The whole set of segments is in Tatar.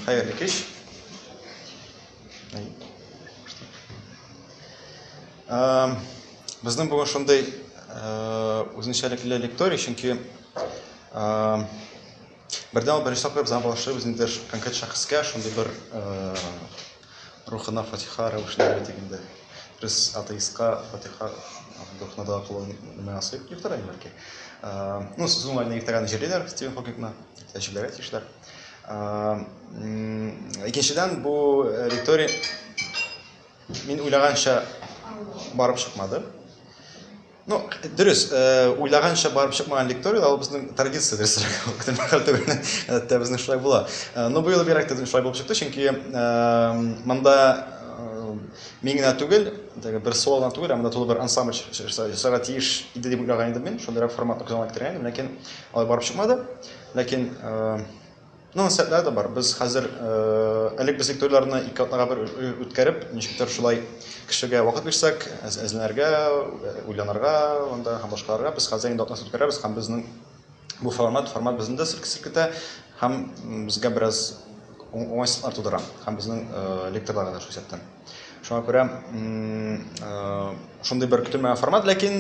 Хәерле кич. Эм, безнең бүген шундый э, үзенчәлекле лекторий, чөнки эм, бердәм беренче тапкыр без аңа багышлыйбыз ниндидер конкрет шәхескә, шундый бер э, Рухына фатиха рәвешләре итик инде. Без атеистка фатиха рухына дога кылу нәмә ясыйк, иртәгә бәлки. Ну, сүз уңаеннан иртәгәне җырлыйлар Стивен Хокингны, тәҗрибәгә тиешләр. Икенчедән, бу э, ритория мин уйлаганча барып чыкмады. Ну, дөрес, э, уйлаганча барып чыкмаган лекторий, ул безнең традиция дөрес күптән мәхәл түгел. Әттә безнең шулай була. Э, но быел бигрәк тә шулай булып чыкты, чөнки э, монда мин генә түгел, бер соло гына түгел, ә монда тулы бер ансамбль чыгарга тиеш иде дип уйлаган идем мин. Шундыйрак формат кызганып киткән идем, ләкин алай барып чыкмады. Ләкин Ну, сәтләр дә бар. Без хәзер элек без туйларны ике атнага бер үткәреп, ничектер шулай кешегә вакыт бирсәк, әзләнергә, уйланырга, анда һәм башкаларга без хәзер инде атнасы үткәрәбез һәм безнең бу формат, формат безне дә сиркетә һәм безгә бераз уңайсызлыклар тудыра һәм безнең лекторларга да шул исәптән. Шуңа күрә шундый бер көтелмәгән формат, ләкин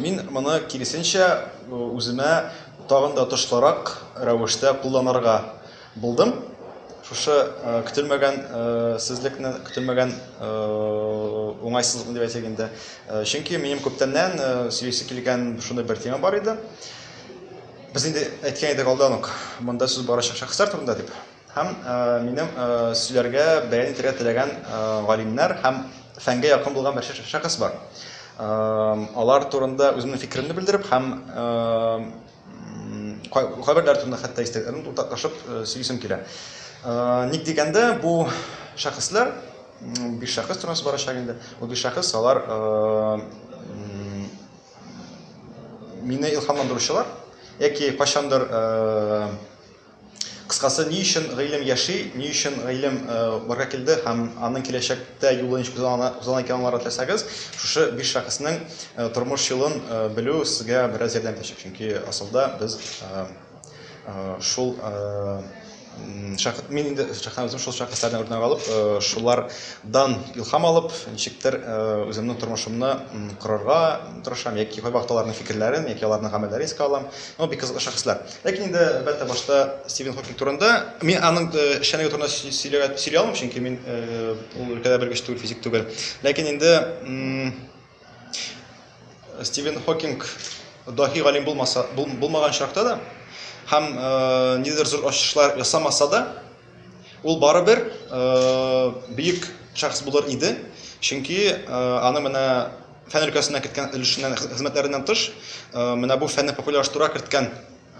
мин моны киресенчә үземә тагын да отышлырак рәвештә кулланырга булдым. Шушы көтелмәгән сезлекне, көтелмәгән уңайсызлыкны дип әйтик инде. Чөнки минем күптәннән сөйлисе килгән шундый бер тема бар иде. Без инде әйткән идек алдан ук, монда сүз барачак шәхесләр турында дип. Һәм минем сөйләргә бәян итәргә теләгән галимнәр һәм фәнгә якын булган бер шәхес бар. Алар турында үземнең фикеремне белдереп һәм кайберләр турында хәтта истәлекләрен уртаклашып сөйлисем килә. Ник дигәндә, бу шәхесләр биш шәхес турында барачак инде. Бу биш шәхес алар мине илһамландыручылар яки кайчандыр Кыскасы, ни өчен гыйлем яши, ни өчен гыйлем барга килде һәм аның киләчәктә юлы ничек узган икән аңларга теләсәгез, шушы биш шәхеснең тормыш юлын белү сезгә бераз ярдәм итәчәк. Чөнки асылда без шул шәхес мин инде шәхсән үзем шул шәхесләрдән үрнәк алып, шулардан илһам алып, ничектер үземнең тормышымны корырга тырышам яки кайвакыт аларның фикерләрен яки аларның гамәлләрен искә алам. Ну, бик кызыклы шәхесләр. Ләкин инде, әлбәттә, башта Стивен Хокинг турында. Мин аның э, эшчәнлеге турында сөйләгә сөйли алмыйм, чөнки мин э, ул өлкәдә белгеч түгел, физик түгел. Ләкин инде Стивен Хокинг даһи галим булмаса, булмаган чакта да һәм э, нидер зур ачышлар ясамаса да, ул барыбер бер бөек шәхес булыр иде, чөнки аның менә фән өлкәсенә керткән өлешеннән хезмәтләреннән тыш менә бу фәнне популярлаштыруга керткән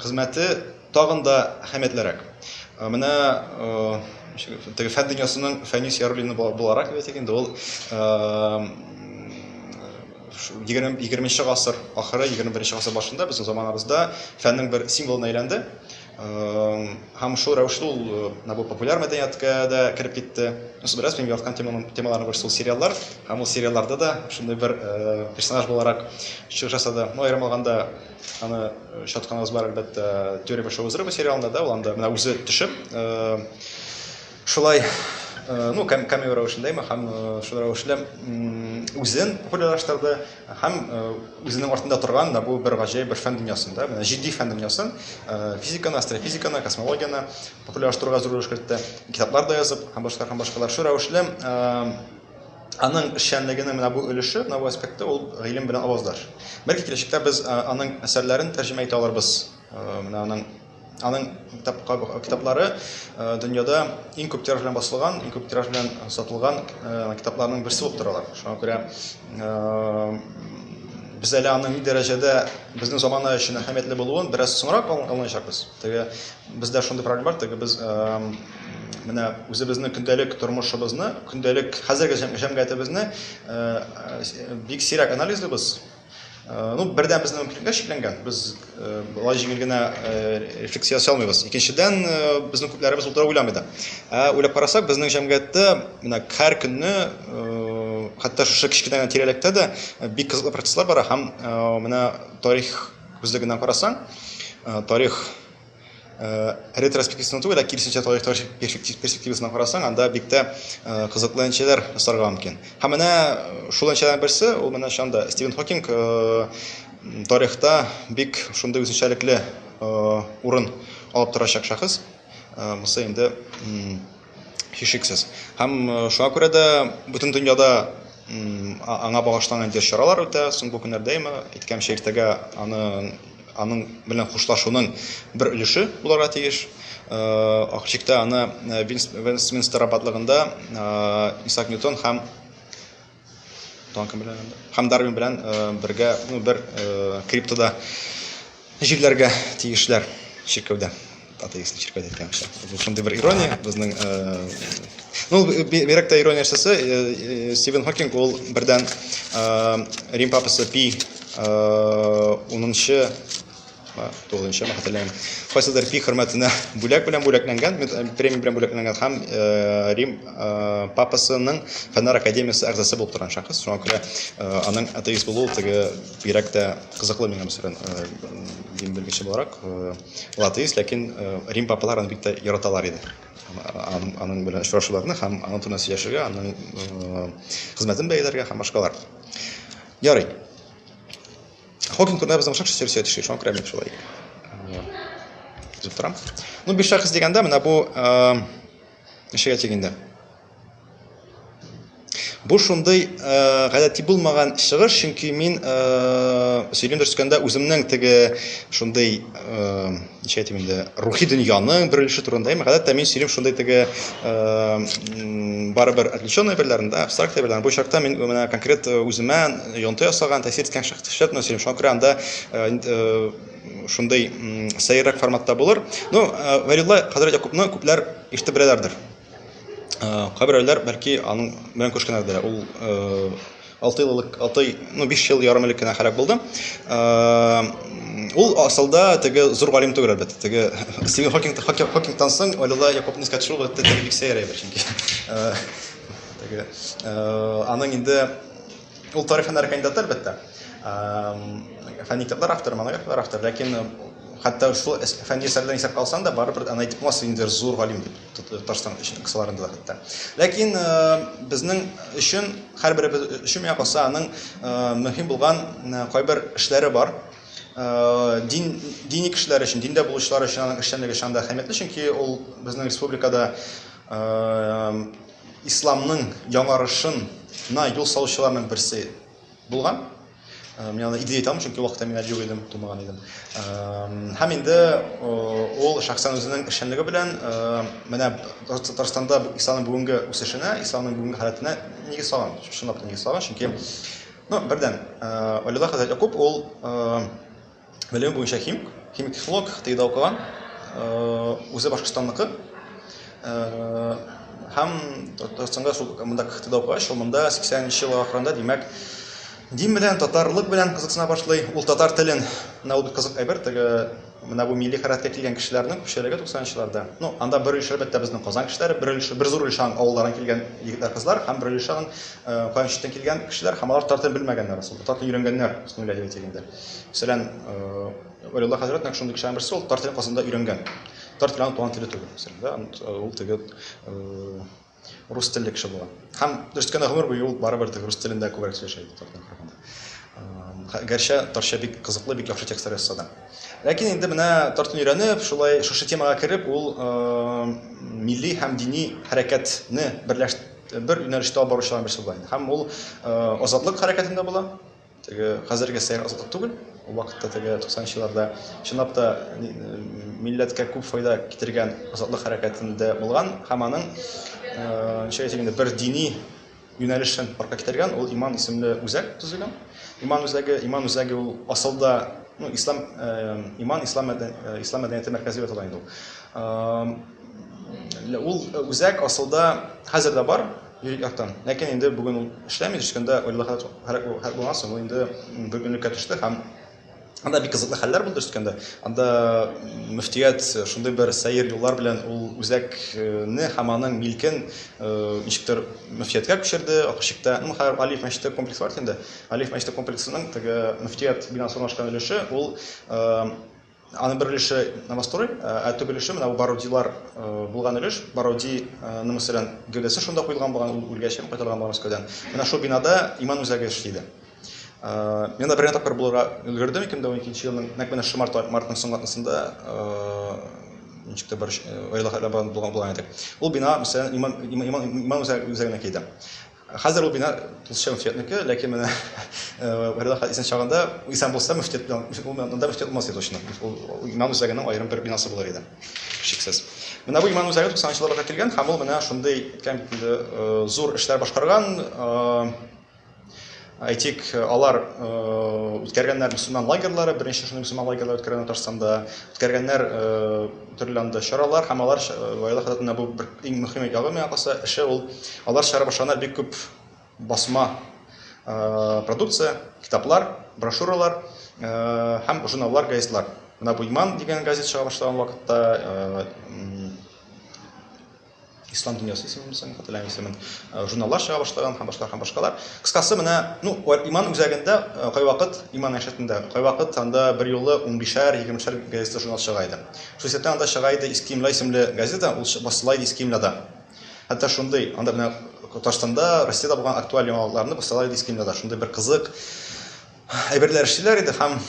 хезмәте тагын да әһәмиятлерәк менә теге фән дөньясының фәнис яруллины буларак әйтик инде ул егерменче гасыр ахыры егерме беренче гасыр башында безнең заманабызда фәннең бер символына әйләнде Һәм шул рәвешле ул бу популяр мәдәнияткә дә кереп китте. Бераз мин яраткан темаларның берсе ул сериаллар. Һәм ул сериалларда да шундый бер персонаж буларак чыгыш ясады. Ну, аерым алганда, аны очратканыбыз бар, әлбәттә, Теория большого взрыва сериалында да, ул анда менә үзе төшеп, Шулай, ну, камео рәвешендә ме, һәм шул рәвешле үзен популярлаштырды, һәм үзенең артында торган да бу бер гаҗәеп бер фән дөньясын, да, менә җитди фән дөньясын, физиканы, астрофизиканы, космологияне популярлаштыруга зур өлеш кертте, китаплар да язып, һәм башка һәм башкалар. Шул рәвешле аның эшчәнлегенең менә бу өлеше, менә бу аспекты ул гыйлем белән аваздаш. Бәлки киләчәктә без аның әсәрләрен тәрҗемә итә алырбыз, менә аның Аның китаплары дөньяда иң күп тираж белән басылган, иң күп тираж белән сатылган китапларның берсе булып торалар. Шуңа күрә без әле аның ни дәрәҗәдә безнең замана өчен әһәмиятле булуын бераз соңрак аңлаячакбыз. Теге бездә шундый проблема бар, теге без менә үзебезнең көндәлек тормышыбызны, көндәлек хәзерге җәмгыятебезне бик сирәк анализлыйбыз. Э, ну, бердән безнең мөмкинлекләр чикләнгән. Без э, болай җиңел генә э, рефлексия ясый алмыйбыз. Икенчедән, безнең күпләребез ул туры уйламый да. Ә уйлап карасак, безнең җәмгыятьтә менә һәр көнне хәтта шушы кечкенә генә тирәлектә дә бик кызыклы процесслар бара һәм менә тарих күзлегеннән карасаң, тарих ретроспективны түгел, ә киресенчә тарих перспективасына карасаң, анда бик тә кызыклы әнчеләр сарга мөмкин. Һәм менә шул әнчеләрнең берсе, ул менә шанда Стивен Хокинг тарихта бик шундый үзенчәлекле урын алып торачак шәхес. Бусы инде һичшиксез. Һәм шуңа күрә дә бөтен дөньяда аңа багышланган дә чаралар үтә. Соң бу көннәрдә имә иткәнче иртәгә аны аның белән хушлашуның бер өлеше буларга тиеш. Акчикта аны Вестминстер аббатлыгында Исаак Ньютон һәм Донкин белән һәм Дарвин белән э, бергә ну, бер э, криптода җирләргә тиешләр чиркәүдә атеистный чиркәү дип әйтәм бу шундый бер ирония безнең э, ну бигрәк тә ирония нәрсәсе э, стивен хокинг ул бердән рим папасы пи унынчы Тугызынчы, хәтерләмим. Кайсыдыр пи хөрмәтенә бүләк белән бүләкләнгән, премия белән бүләкләнгән һәм Рим папасының фәннәр академиясе әгъзасы булып торган шәхес. Шуңа күрә аның атеист булуы теге бигрәк тә кызыклы миңа мәсәлән, дин белгече буларак. Ул атеист, ләкин Рим папалар аны бик тә яраталар иде. Аның белән очрашуларны һәм аның турында сөйләшергә, аның хезмәтен бәяләргә һәм башкалар. Ярый. Хокинг турында безнең ошак шәһәр сөйли шуңа күрә мин шулай. Үзем торам. Ну, биш шәхес дигәндә менә бу ничәгә тиң инде? Бу шундый гадәти булмаган чыгыш, чөнки мин сөйлим төшкәндә үземнең теге шундый ничә әйтим инде рухи дөньяның бер өлеше турында әйме гадәттә мин сөйлим шундый теге барыбер отвлеченный әйберләрне да абстракт әйберләрне бу очракта мин менә конкрет үземә йонты ясаган тәэсир иткән шәхесләр турында сөйлим шуңа күрә анда шундый сәеррәк форматта булыр ну вәлилла хәзрәт якупны күпләр ишетеп беләләрдер кайберәүләр бәлки аның белән күршкәннәрдер ул Алты ел элек, алты, ну, биш ел ярым элек кенә һәлак булды. Ул асылда теге зур галим түгел әлбәттә. Теге Стивен Хокинг, Хокинг, Хокингтан соң Олила Якобны искә төшерү әлбәттә теге бик сәер әйбер чөнки. Теге аның инде ул тарих һөнәр кандидаты әлбәттә. Фәнни китаплар авторы, монографиялар авторы, ләкин хәтта шул фәнни әсәрләрен исәпкә алсаң да, барыбер аны әйтеп булмас, инде зур галим дип. Татарстан өчен кысаларында да хәтта. Ләкин безнең өчен һәрберебез өчен миңа калса аның мөһим булган кайбер эшләре бар. Дин дини кешеләр өчен, диндә булучылар өчен аның эшчәнлеге шанда әһәмиятле, чөнки ул безнең республикада исламның яңарышына юл салучыларның берсе булган. Э, мин аны идея итам, чөнки вакытта мин әле юк идем, тумаган идем. Э, һәм инде э, ул шәхсән үзенең эшчәнлеге белән менә Татарстанда исламның бүгенге үсешенә, исламның бүгенге халәтенә нигез салган, чынлап нигез салган, чөнки ну, бердән, Алилла хәзрәт Якуб ул Белем буенча химик, химик технолог, ТИДА укыган, үзе Башкортстанныкы. Һәм Татарстанда шул монда КХТда укыгач, ул монда 80 нче ел ахырында, димәк, дин белән, татарлык белән кызыксына башлый. Ул татар телен, менә ул бик кызык әйбер, теге менә бу милли хәрәкәткә килгән кешеләрнең күпчелеге 90-нчыларда. Ну, анда бер өлеше әлбәттә безнең Казан кешеләре, бер өлеше, бер зур өлеше авыллардан килгән егетләр, кызлар һәм бер өлеше кайчактан килгән кешеләр һәм алар татар телен белмәгәннәр, татар телен өйрәнгәннәр, бисмилла әйтә дигәндә. Мәсәлән, Валилла хәзрәт нәкъ шундый кешеләрнең берсе, ул татар телен Казанда өйрәнгән. Татар теле аның туган теле түгел, мәсәлән, да, ул теге рус телле кеше булган. Һәм дөрес кенә гомер буе ул барыбер теге рус телендә күбрәк сөйләшә иде татар телен караганда. Гәрчә татарча бик кызыклы, бик яхшы текстлар язса да. Ләкин инде менә татар телен өйрәнеп, шулай шушы темага кереп, ул милли һәм дини хәрәкәтне берләштереп бер юнәлештә алып баручыларның берсе була. Һәм ул азатлык хәрәкәтендә була. Теге хәзерге сәер азатлык түгел. Ул вакытта теге 90 елларда чынлап та милләткә күп файда китергән азатлык хәрәкәтендә булган һәм аның ничә әйтик инде бер дини юнәлешен парка китергән ул иман исемле үзәк төзегән. Иман үзәге, иман үзәге ул асылда ну, ислам, э, иман ислам, э, ислам мәдәнияте мәркәзе дип атала инде ул. Э, ул үзәк асылда хәзер дә бар, Юрий Яхтан. Ләкин инде бүген ул эшләми, төшкәндә Орлыда хәл хәл булганнан соң, ул инде бер көнлеккә төште һәм анда бик кызыклы хәлләр булды төшкәндә. Анда мөфтият шундый бер сәер юллар белән ул үзәкне һәм аның милкен ничектер мөфтияткә күчерде, Акышчыкта, ну, хәзер Алиф мәчете комплексы бар бит инде. Алиф мәчете комплексының теге мөфтият бинасы урнашкан өлеше, ул Аның бер өлеше новострой, ә төп өлеше менә бу Бородилар булган өлеш. Бороди, ну, мәсәлән, гәүдәсе шунда куелган булган, ул үлгәч һәм кайтарылган булган Мәскәүдән. Менә шул бинада иман үзәге эшли иде. Мин дә бер генә тапкыр булырга өлгердем 2012 елның нәкъ менә шушы март мартның соңгы атнасында ничек тә бер гаилә хәле булган булган иде. Ул бина, мәсәлән, иман иман иман үзәгенә килде. Хәзер ул бина тулысынча мөфтиятнеке, ләкин менә Вәлиулла хәзрәт исән чагында исән булса мөфтият белән ул монда мөфтият булмас иде точно. Ул имам үзәгенең аерым бер бинасы булыр иде. Шиксез. Менә бу имам үзәге 90 елларда килгән һәм ул менә шундый әйткән бит инде зур эшләр башкарган. Әйтик, алар үткәргәннәр мөселман лагерьлары, беренче шундый мөселман лагерьлары үткәргәннәр Татарстанда, үткәргәннәр төрле анда чаралар һәм алар Ваилә хәзрәтенә бу бер иң мөһим ягы миңа калса, эше ул алар чыгара башлаганнар бик күп басма продукция, китаплар, брошюралар һәм журналлар, газетлар. Менә бу Иман дигән газет чыга башлаган вакытта Ислам дөньясы исемен соң хәтерләмим исемен. Э, журналлар чыга башлаган һәм башкалар һәм башкалар. Кыскасы менә, ну, иман үзәгендә э, кайвакыт иман әшәтендә кайвакыт анда бер юлы 15-шәр, 20-шәр газета журнал чыга иде. Хусәттән анда чыга иде Искимла исемле газета, ул басыла иде Искимлада. Хәтта шундый, анда менә Татарстанда, Россиядә булган актуаль яңалыкларны басыла иде Искимлада. Шундый бер кызык Әйберләр эшлиләр иде һәм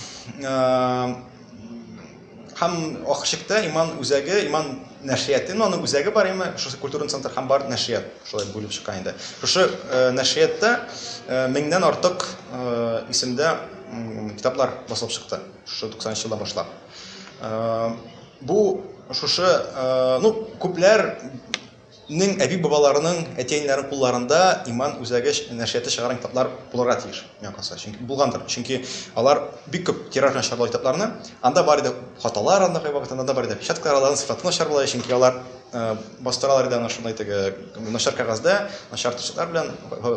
һәм ахырчыкта иман үзәге, иман нәшрияты, ну, аның үзәге бар именно, шушы культурный центр һәм бар нәшрият, шулай бүлеп чыккан инде. Шушы э, нәшриятта э, меңнән артык э, исемдә китаплар басылып чыкты, шушы 90 елдан башлап. Бу шушы, ну, күпләр нең әби-бабаларының, әти-әниләренең кулларында Иман үзәге нәшрияты чыгарган китаплар булырга тиеш, миңа калса. Чөнки булгандыр. Чөнки алар бик күп тираж белән чыгардылар китапларны. Анда бар иде хаталар, анда кайвакыт анда да бар иде опечаткалар, аларның сыйфаты начар була иде, чөнки алар бастыралар иде аны шундый теге начар кәгазьдә, начар тычытлар белән,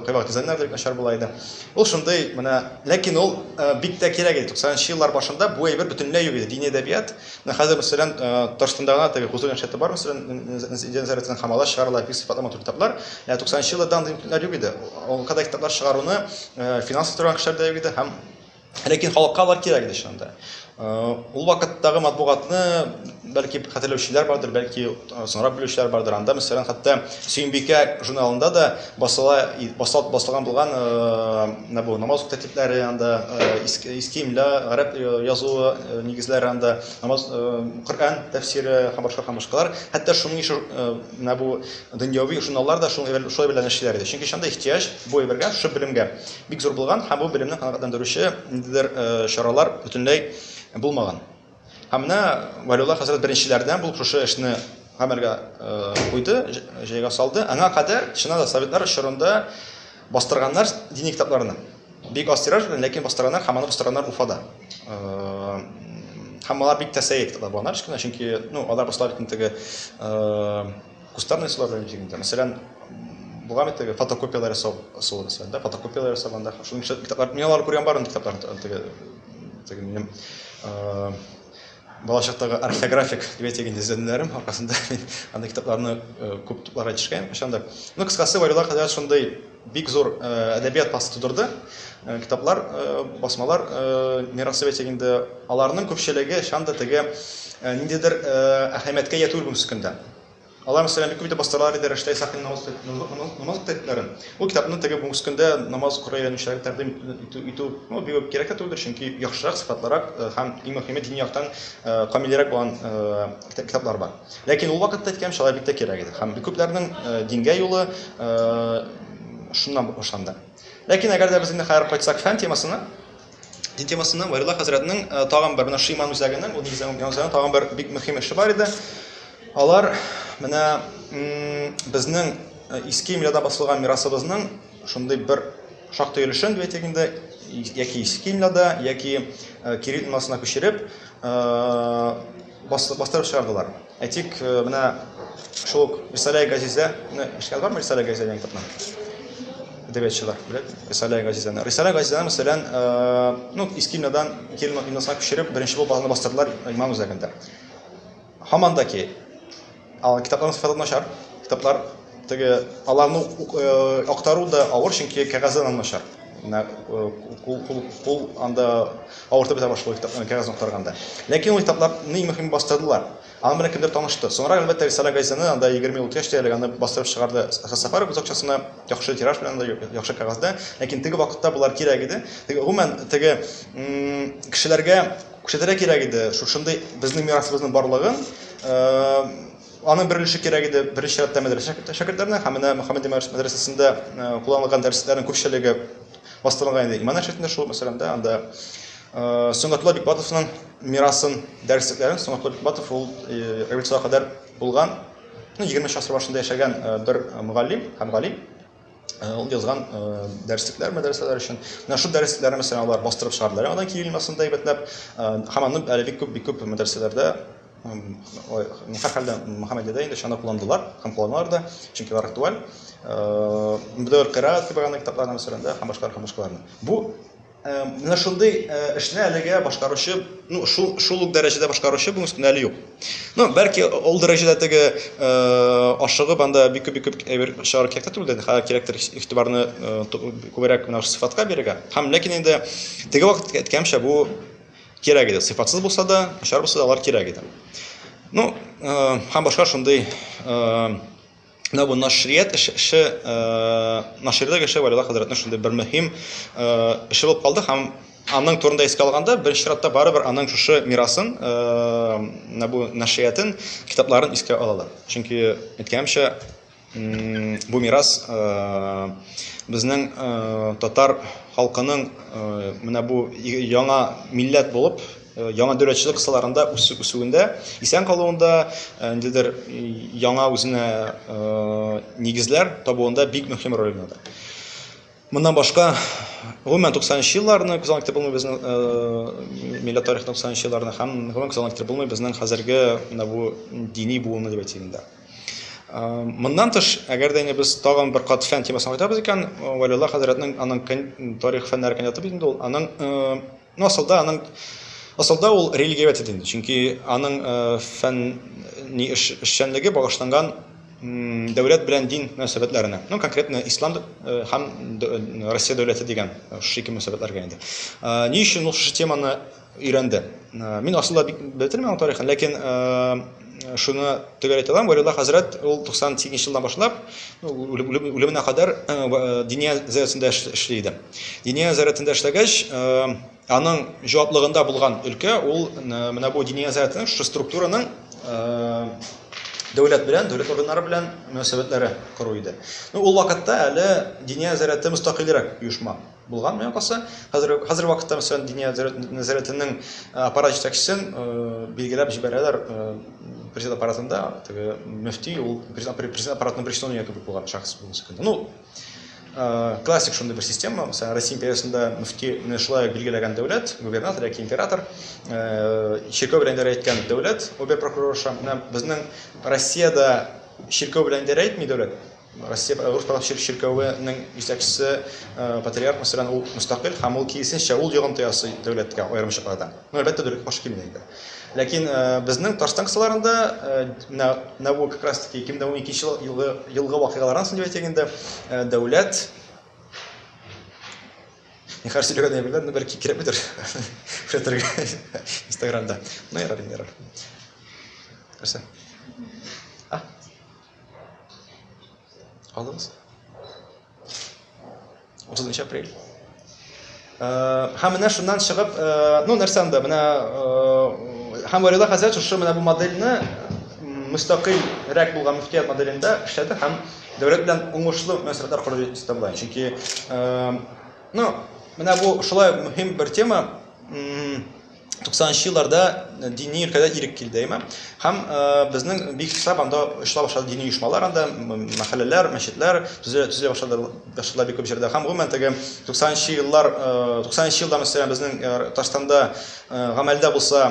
кайвакыт дизайннар да бик начар була иде. Ул шундый менә, ләкин ул бик тә кирәк иде. 90 нчы еллар башында бу әйбер бөтенләй юк иде. Дини әдәбият Менә хәзер, мәсәлән, Татарстанда гына теге хозур иншаты бар, мәсәлән, Нәзарәтнең Хамала чыгарыла, бик сыйфатлы матур китаплар. Ә 90 нчы елларда андый мөмкинлекләр юк иде. Ул кадәр китаплар чыгаруны финанслый торган кешеләр дә юк иде һәм ләкин халыкка алар кирәк иде чынында. Ул вакыттагы матбугатны, бәлки, хәтерләүчеләр бардыр, бәлки, Соңрак белүчеләр бардыр. Анда, мәсәлән, хәтта Сөембикә журналында да басыла, басылып басылган булган менә бу намаз уку тәртипләре анда истимля, гарәп язуы нигезләре анда, намаз Коръән тәфсире һәм башка һәм башкалар. Хәтта шуның ише менә бу дөньяви журналлар да шуның белән шулай белән эшлиләр иде. Чөнки шунда ихтыяҗ бу әйбергә, шушы белемгә бик зур булган һәм бу белемне канәгатьләндерүче ниндидер чаралар бөтенләй булмаган. Һәм менә Валиулла хәзрәт беренчеләрдән булып шушы эшне гамәлгә куйды, җәйгә салды. Аңа кадәр чыннан да советлар чорында бастырганнар дини китапларны. Бик аз тираж белән, ләкин бастырганнар һәм аны бастырганнар Уфада. Һәм алар бик тә сәер китаплар булганнар, чөнки, ну, алар башта бит инде теге Кустарный суларның җирендә, мәсәлән, булган бит теге фотокопияләр ясау ысулы мәсәлән, да, фотокопияләр ясаганда, шуның өчен китаплар, мин аларны күргән барын китаплар теге теге минем балачактагы орфографик дип әйтегез изләнүләрем аркасында мин анда китапларны күп тупларга ирешкән кайчандыр. Ну, кыскасы, варюлар хәзер шундый Бик зур әдәбият басы тудырды. Китаплар, басмалар мирасы бәйсәк инде, аларның күпчелеге шанда теге ниндидер әһәмияткә ия түгел бүгенге көндә. Алар, мәсәлән, бик күп итеп бастыралар иде Рәштай Сафин намаз тәртипләрен. Ул китапны теге бүгенге көндә намаз укырга өйрәнүчеләргә тәкъдим итү бик үк кирәк тә түгелдер, чөнки яхшырак, сыйфатлырак һәм, иң мөһиме, дини яктан камилрәк булган китаплар бар. Ләкин ул вакытта, әйткәнемчә, алар бик тә кирәк иде. Һәм бик күпләрнең дингә юлы шуннан башланды. Ләкин әгәр дә без инде хәзер кайтсак фән темасына, дин темасына, Варилла хәзрәтнең тагын бер, менә Шиман үзәгенең, ул үзәгенең янында тагын бер бик мөһим эше бар иде. Алар менә безнең иске имләдә басылган мирасыбызның шундый бер шактый өлешен, дип әйтик инде, яки иске имләдә, яки кирилл имласына күчереп, бастырып чыгардылар. Әйтик, менә шул ук Рисалә Газизә, менә эшкә бармы Рисалә Газизә дигән китапны? Әдәбиятчылар белән Рисалә Газизәне. Рисалә Газизәне, мәсәлән, ну, Искинадан Килма Иносак күчереп, беренче булып аны бастырдылар Иман үзәгендә. Һаман да ки, Ал китапларның сыйфаты начар. Китаплар теге аларны актару да авыр, чөнки кәгазе аннан начар. Менә кул кул кул анда авыртып бетә башлый китапны кәгазен актарганда. Ләкин ул китапларны иң мөһиме бастырдылар. Аның белән кемдер танышты. Соңрак әлбәттә Рисала газетаны анда 20 ел үткәч тә әле аны бастырып чыгарды. Әхәт Сафаров үз акчасына яхшы тираж белән анда яхшы кәгазьдә. Ләкин теге вакытта болар кирәк иде. Теге гомумән теге кешеләргә Күрсәтергә кирәк иде шушындый безнең мирасыбызның барлыгын. Аның бер өлеше кирәк иде беренче чиратта мәдрәсә шәкертләренә һәм менә Мөхәммәди мәдрәсәсендә кулланылган дәресләрнең күпчелеге бастырылган иде иман әшрифендә шул мәсәлән да анда Сөнгатулла Бикбатовның мирасын дәреслекләрен Сөнгатулла Бикбатов ул революциягә кадәр булган 20 шасыр башында яшәгән бер мөгаллим һәм галим Э, ул язган э, дәреслекләр мәдрәсәләр өчен менә шул дәресләрне мәсәлән алар бастырып чыгардылар яңадан кирилмасында әйбәтләп э, һәм аны әле бик күп бик күп мәдрәсәләрдә һәрхәлдә мөхәммәдиядә инде чана кулландылар һәм кулланалар да чөнки алар актуаль мөдәвер кыйраат кебек аны китапларны мәсәлән дә һәм башкалар һәм башкаларны бу Ә, менә шундый ә, эшне әлегә башкаручы, ну, шул, шул ук дәрәҗәдә башкаручы бүгенге көндә әле юк. Ну, бәлки ул дәрәҗәдә теге ә, ашыгып анда бик күп бик күп әйбер чыгару кирәк түгел дә, хәзер кирәктер игътибарны ә, күбрәк менә сыйфатка бирергә. Һәм ләкин инде теге вакыт әйткәнчә бу кирәк иде. Сыйфатсыз булса да, начар булса да алар кирәк иде. Ну, ә, һәм башка шундый ә, Менә бу нашрият эше, наширдә кеше Валила хәзрәтнең шундый бер мөһим эше булып калды һәм аның турында искә алганда, беренче чиратта барыбер аның шушы мирасын, менә бу нашриятын, китапларын искә алалар. Чөнки әйткәнемчә, бу мирас безнең татар халкының менә бу яңа милләт булып Э, яңа дөрәтчелек кысаларында үсүендә исән калуында э, ниндидер яңа үзенә э, нигезләр табуында бик мөһим роль уйнады моннан башка гомумән туксанынчы елларны күз алдына китереп булмый безнең милләт тарихын туксанынчы елларны һәм гомумән күз алдына китереп булмый безнең хәзерге менә бу дини буынны дип әйтим инде Моннан тыш, әгәр дә без тагын бер кат фән темасын кайтабыз икән, Валилла хәзрәтнең аның тарих фәннәре кандидаты бит инде ул, аның Ну, асылда аның асылда ул религиовед иде инде, чөнки аның э, фән ни эш, эшчәнлеге багышланган дәүләт белән дин мөнәсәбәтләренә. Ну, конкретно ислам э, һәм э, Россия дәүләте дигән шушы ике мөнәсәбәтләргә инде. Ни өчен ул шушы теманы өйрәнде? Мин асылда бик белмим аның тарихын, ләкин Шуны төгәл әйтә алам, Вәлиулла хәзрәт ул 98 елдан башлап, үлеменә кадәр Диния зәясендә эшли иде. Диния зәясендә эшләгәч, аның җаваплыгында булган өлкә ул менә бу Диния зәясенең шушы структураның дәүләт белән, дәүләт органнары белән мөнәсәбәтләре кору иде. Ну, ул вакытта әле Диния зәяте мөстәкыйльрәк оешма. Булган менә касы. Хәзер хәзер вакытта мәсәлән Диния нәзарәтенең аппарат җитәкчесен билгеләп җибәрәләр президент аппаратында. Теге мөфти ул президент аппаратының пришлоннигы кебек булган шахс булмаса кенә. Ну, классик шундый бер система. Мәсәлән, Россия империясендә мөфти менә шулай билгеләгән дәүләт, губернатор яки император, чиркәү белән идарә иткән дәүләт, обер прокурорша. Менә безнең Россиядә чиркәү белән идарә итми дәүләт. Россия православие чиркәвенең җитәкчесе патриарх мәсәлән ул мөстәкыйль һәм ул киесенчә ул йогынты ясый дәүләткә аерым чакларда. Ну әлбәттә дөрек баш килми инде. Ләкин безнең Татарстан кысаларында менә нәву как раз таки 2012 елгы елгы вакыйгалардан соң дип әйтик инде дәүләт Ни хәл сөйләгән дә белмәдем, бер кикрәп бетер. Күрәтергә Instagramда. Ну ярар, ярар. Нәрсә? Алыңыз. 30 апрель. Һәм менә шуннан чыгып, ну нәрсә анда, менә һәм Варила хәзрәт шушы менә бу модельне мөстәкыйль рәк булган мөфтият моделендә эшләде һәм дәүләт белән уңышлы мөнәсәбәтләр корды дип исәпләйм. Чөнки ну менә бу шулай мөһим бер тема, 90-нчы елларда дини өлкәдә ирек килде, әйме? Һәм безнең бик хисап анда очыла башлады дини оешмалар анда, мәхәлләләр, мәчетләр төзелә төзелә башлады, башлады бик күп җирдә. Һәм гомумән теге 90-нчы еллар, 90-нчы елда мәсәлән безнең Татарстанда гамәлдә булса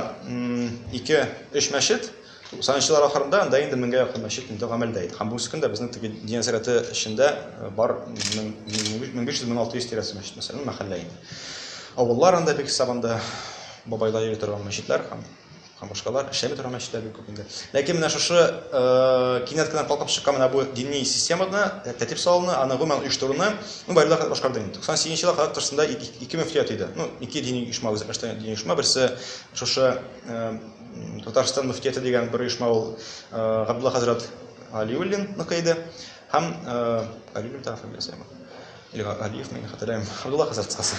ике, өч мәчет, 90 еллар ахырында анда инде меңгә якын мәчет инде гамәлдә иде. Һәм бүгенге көндә безнең теге дин сәрәте эчендә э, бар 1500-1600 тирәсе мәчет мәсәлән, мәхәллә инде. Авыллар анда бик сабанда бабайлар йөри торган мәчетләр һәм һәм башкалар эшләми торган мәчетләр бик күп инде. Ләкин менә шушы э, кинәт кенә калкып чыккан менә бу дини системаны, э, тәртип салуны, аны гомумән оештыруны ну байлар хәзер башкарды инде. 98 елга кадәр тышында ике мөфтият иде. Ну, ике дини оешма үзәкләштергән дини оешма, берсе шушы э, Татарстан мөфтияте дигән бер оешма ул Габдулла хәзрәт Алиуллинныкы иде. Һәм Алиуллин тагы фамилиясе бар. Или Алиев, мин хәтерләмим. Габдулла хәзрәт кыскасы.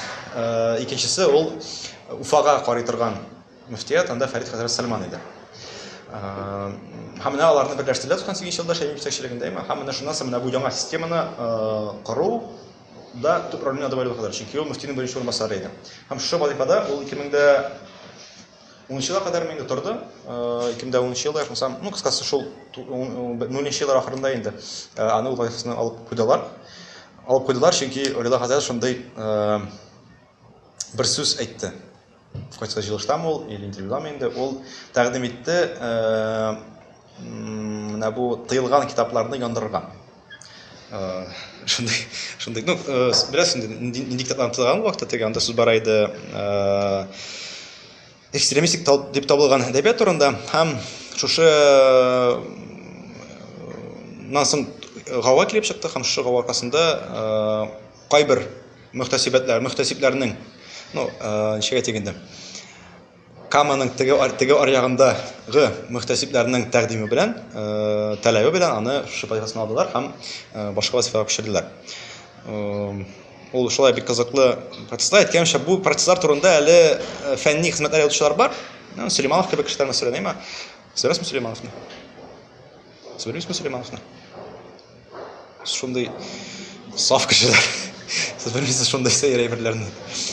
Икенчесе ул Уфага карый торган мөфтият, анда Фәрит хәзрәт Сальман иде. Һәм менә аларны берләштерделәр 98 елда Шәймиев җитәкчелегендә. Һәм менә шуннан соң менә бу яңа системаны кору да төп роль уйнады Валиулла хәзрәт. Чөнки ул мөфтинең беренче урынбасары иде. Һәм шушы вазифада ул 2000 Унынчы елга кадәр мин инде тордым. 2010 елда икмсам, ну, кыскасы шул 10 еллар ахырында инде аны вазифасына алып куйдылар. Алып куйдылар, чөнки Рила хәзрәт шундый бер сүз әйтте. Кайсы җылыштамы ул, или интервьюдамы инде, ул тәкъдим итте, Менә бу тыелган китапларны яндырырга. Шундый, шундый, ну, беләсең, нинди китапларны тыелган вакытта теге анда сүз бара иде. Экстремистик дип табылган әдәбият турында һәм шушы насын гава килеп чыкты һәм шушы гава аркасында кайбер мөхтәсибәтләр, мөхтәсибләрнең, ну, ничек әйтик инде, Каманың теге, теге аръягындагы мөхтәсибләрнең тәкъдиме белән, таләбе белән аны шушы вазифасына алдылар һәм башка вазифага күчерделәр. Ул шулай бик кызыклы процесслар. Әйткәнемчә, бу процесслар турында әле фәнни хезмәтләр язучылар бар. Сөлейманов кебек кешеләр мәсәлән, әмма Сөрәсме Сөлеймановны? Сөрәсме Сөлеймановны? Шундый саф кешеләр. Сез белмисез шундый сәер әйберләрне.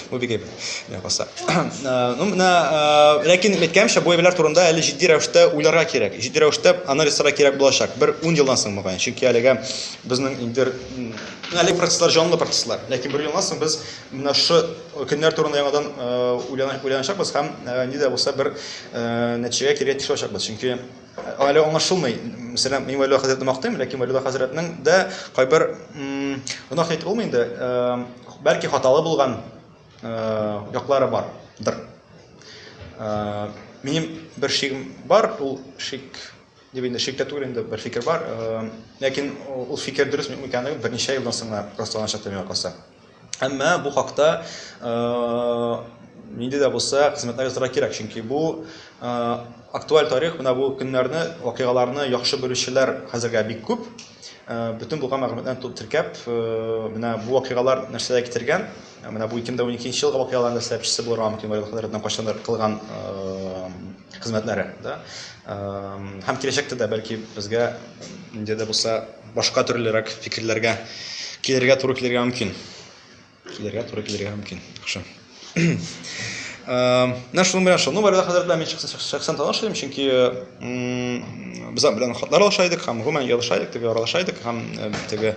Бу бик әйбер. Менә каса. Э, ну, менә э, ләкин әйткәнчә, бу әйберләр турында әле җитди рәвештә уйларга кирәк. Җитди рәвештә анализ ясарга кирәк булачак. Бер 10 елдан соң мөгаен. Чөнки әлегә безнең инде әле процесслар җанлы процесслар. Ләкин бер елдан соң без менә шу көннәр турында яңадан э, уйланачакбыз һәм нидә булса бер нәтиҗәгә килергә тиеш булачакбыз. Чөнки Әле аңлашылмый. Мәсәлән, мин Вәлиулла хәзрәтне мактыйм, ләкин Вәлиулла хәзрәтнең дә кайбер гөнаһ әйтеп булмый инде. Бәлки хаталы булган яклары бардыр. Минем бер шигем бар, ул шик дип инде шик тә түгел инде бер фикер бар. Ләкин ул фикер дөрес микәнлеген берничә елдан соң гына расланачак дип миңа калса. Әмма бу хакта нинди дә булса хезмәтләр ясарга кирәк, чөнки бу актуаль тарих, менә бу көннәрне, вакыйгаларны яхшы белүчеләр хәзергә бик күп. Бөтен булган мәгълүматларны тулып теркәп, менә бу вакыйгалар нәрсәгә китергән, менә бу 2012 елгы вакыйгаларны сәбәпчесе булырга мөмкин, вакыйгалардан кайчандыр кылган хезмәтләре, да, һәм киләчәктә дә бәлки безгә инде дә булса башка төрлерәк фикерләргә килергә туры килергә мөмкин. Килергә туры килергә мөмкин. Яхшы. Менә шуның белән шуның барәдә хәзер белән мин шәхсән таныш идем, чөнки Без аның белән хатлар алыша идек һәм гомумән языша идек, теге аралаша идек һәм теге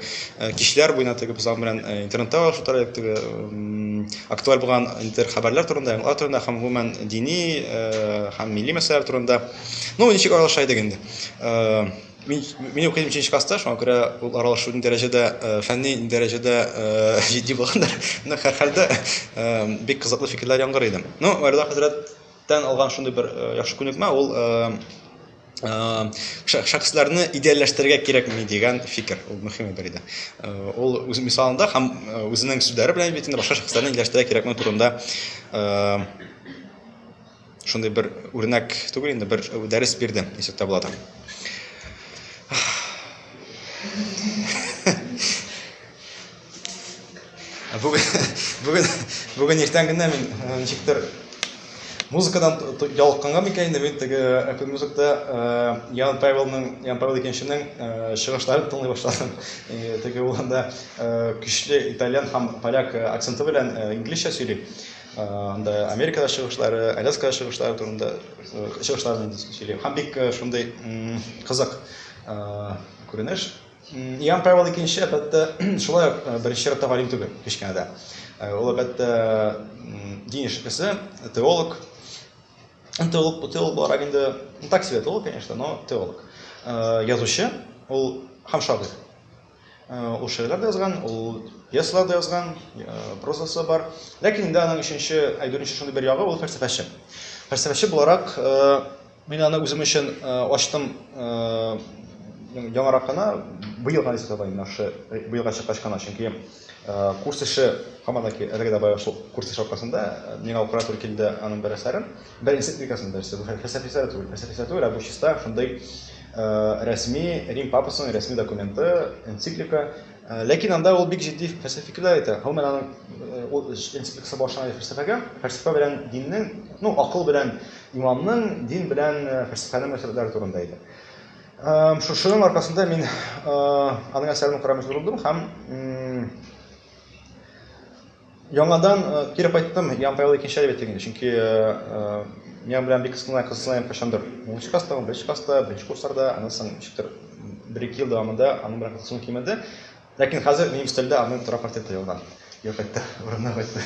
кичләр буена теге без аның белән интернетта алышу тора идек, теге актуаль булган интер хәбәрләр турында, яңалар турында һәм гомумән дини һәм милли мәсьәләләр турында. Ну, ничек аралаша идек инде. Мин мин укыйм 3 класста, шуңа күрә ул аралашу дәрәҗәдә, фәнни дәрәҗәдә җитди булгандыр. Менә һәрхәлдә бик кызыклы фикерләр яңгырый иде. Ну, Вәлилла хәзрәт Тән алган шундый бер э, яхшы күнекмә ул э, э, шәхесләрне идеальләштерергә кирәкми дигән фикер ул мөһим бер иде ул үз мисалында һәм үзенең сүзләре белән бит инде башка шәхесләрне идеальләштерергә кирәкми турында шундый бер үрнәк түгел инде бер дәрес бирде ничек тә була Бүген бүген бүген иртән генә мин э, ничектер музыкадан ялыкканга микән инде мин теге Apple Music-та э, Ян Павелның Ян Павел икенченең э, чыгышларын тыңлый башладым. Теге ул анда көчле итальян һәм поляк акценты белән инглизчә сөйли. Анда Америкада чыгышлары, Аляскада чыгышлары турында чыгышларын сөйли. Һәм бик шундый кызык күренеш. Иоанн Павел икенче, әлбәттә, шулай ук э, беренче чиратта галим түгел, кечкенә дә. Э, ул, әлбәттә, дин эшлеклесе, теолог. Теолог, теолог буларак инде, ну, так себе теолог, конечно, но теолог. Э, язучы, ул һәм шагыйрь. Ул шигырьләр дә язган, ул пьесалар да язган, прозасы бар. Ләкин инде аның өченче, ә дүртенче шундый бер ягы, ул фәлсәфәче. Фәлсәфәче буларак Мин аны үзем өчен ачтым яңарак кына, быел гына дисәк була, менә шушы быелга чыккач кына, чөнки курс эше һаман да ки әлегә дә бая шул курс эше аркасында миңа укырга туры килде аның бер әсәрен, бер энцикликасын да, бу фәлсәфи әсәр түгел, фәлсәфи әсәр түгел, ә бу чиста шундый рәсми Рим папасының рәсми документы, энциклика, ләкин анда ул бик җитди фәлсәфи фикерләр әйтә, гомумән аның энцикликасы багышланган иде фәлсәфәгә, фәлсәфә белән диннең, ну акыл белән Имамның дин белән фәлсәфәнең мөнәсәбәтләре турында иде. Шушының аркасында мин аның әсәрен укырга мәҗбүр булдым һәм яңадан кире кайттым Ян Павел икенче әле бетегенде, чөнки миңа белән бик кызгына кызгына ям кашандыр. Унынчы класста, унберенче класста, беренче курсларда, аннан соң ничектер бер-ике ел дәвамында аның белән кызыксыну кимеде. Ләкин хәзер минем стильдә аның тора портреты ялган. Юк итте, урынына кайтты.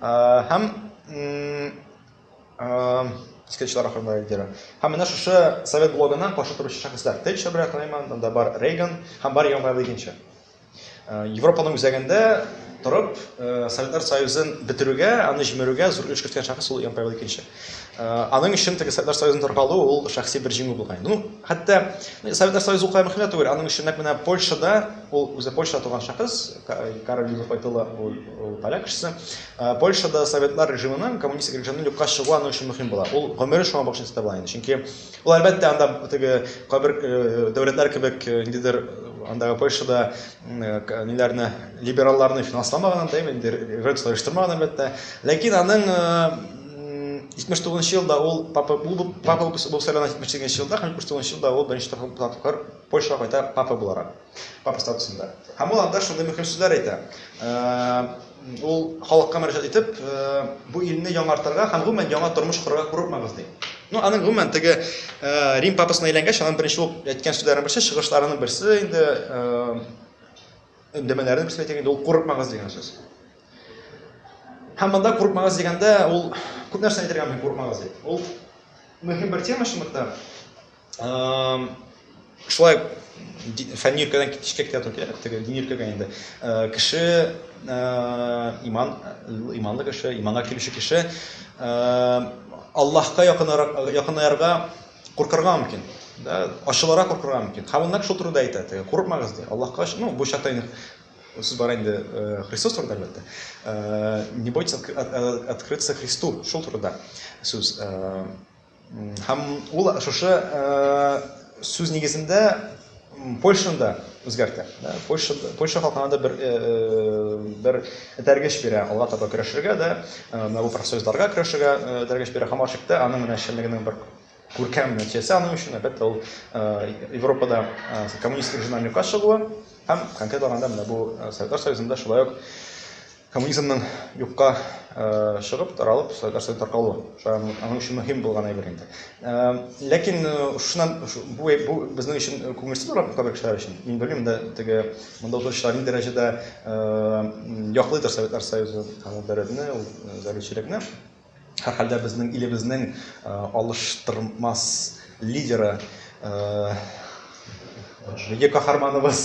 Һәм скетчлар ахырында лидеры. Һәм менә шушы совет блогына каршы торучы шәхесләр. Тэтчер белән Клейман, монда бар Рейган һәм бар Ямайлы икенче. Э, Европаның үзәгендә торып, э, Советлар Союзын бетерүгә, аны җимерүгә зур өлеш керткән шәхес ул Ямайлы икенче. Э, аның өчен теге Советлар Союзын таркалу ул шәхси бер җиңү булган инде. Ну, хәтта э, Советлар Союзы укай мөхәммәт түгел, аның өчен нәкъ менә Польшада, ул үзе Польша туган шәхес, Карл Юзеф Айтыла, ул, ул поляк кешесе. Э, Польшада Советлар режимының, коммунистик режимның юкка чыгуы аның өчен мөһим була. Ул гомере шуңа багышлап итә була инде. Чөнки ул әлбәттә анда теге кабер дәүләтләр кебек ниндидер андагы Польшада ниләрне либералларны финансламаганын да инде революция оештырмаган әлбәттә. Ләкин аның Җитмеш тугызынчы елда ул папа булып, папа булып сайлана, җитмеш сигезенче елда һәм җитмеш тугызынчы елда ул беренче тапкыр Польшага кайта папа буларак, папа статусында. Һәм ул анда шундый мөһим сүзләр әйтә. Ул халыкка мөрәҗәгать итеп, бу илне яңартырга һәм гомумән яңа тормыш корырга курыкмагыз ди. Ну, аның гомумән теге Рим папасына әйләнгәч, аның беренче ул әйткән сүзләренең берсе, чыгышларының берсе инде, өндәмәләренең берсе әйтә инде, ул курыкмагыз дигән сүз. Һәм монда курыкмагыз дигәндә, ул күп нәрсә әйтергә мөмкин курыкмагыз дип. Ул мөһим бер тема шунлыктан. Шулай фәнни өлкәдән китешкә китә торып кирәк, теге дини өлкәгә инде. Э, кеше э, иман, иманлы кеше, иманга килүче кеше э, Аллаһка якынаярга куркырга мөмкин. Да, ачыларак куркырга мөмкин. Һәм ул нәкъ шул турыда әйтә, теге курыкмагыз ди. Аллаһка, ну, бу чакта инде Сез бар инде э, Христос турында әлбәттә. Э, не бойтесь открыться Христу, шул турында сүз. Э, һәм ул шушы сүз нигезендә Польшаны да үзгәртә. Польша Польша халкына да бер бер этәргеч бирә, алга таба көрәшергә дә, менә бу профсоюзларга көрәшергә этәргеч бирә. Һәм ачыкта аның менә эшчәнлегенең бер Күркәм нәтиҗәсе аның өчен, әлбәттә, ул Европада коммунистик режимнан юкка чыгуы һәм конкрет алганда менә бу Советлар Союзында шулай ук коммунизмның юкка чыгып, таралып, Советлар Союзы таркалуы. Шулай аның өчен мөһим булган әйбер инде. Ләкин шуннан бу бу безнең өчен күңелсез булган кабер кешеләр өчен. Мин белмим дә теге монда утыручылар ни дәрәҗәдә яклыйдыр Советлар Союзы һәм ул дәрәҗәне, ул зәлилчелекне. Һәрхәлдә безнең илебезнең алыштырмас лидеры, милли каһарманыбыз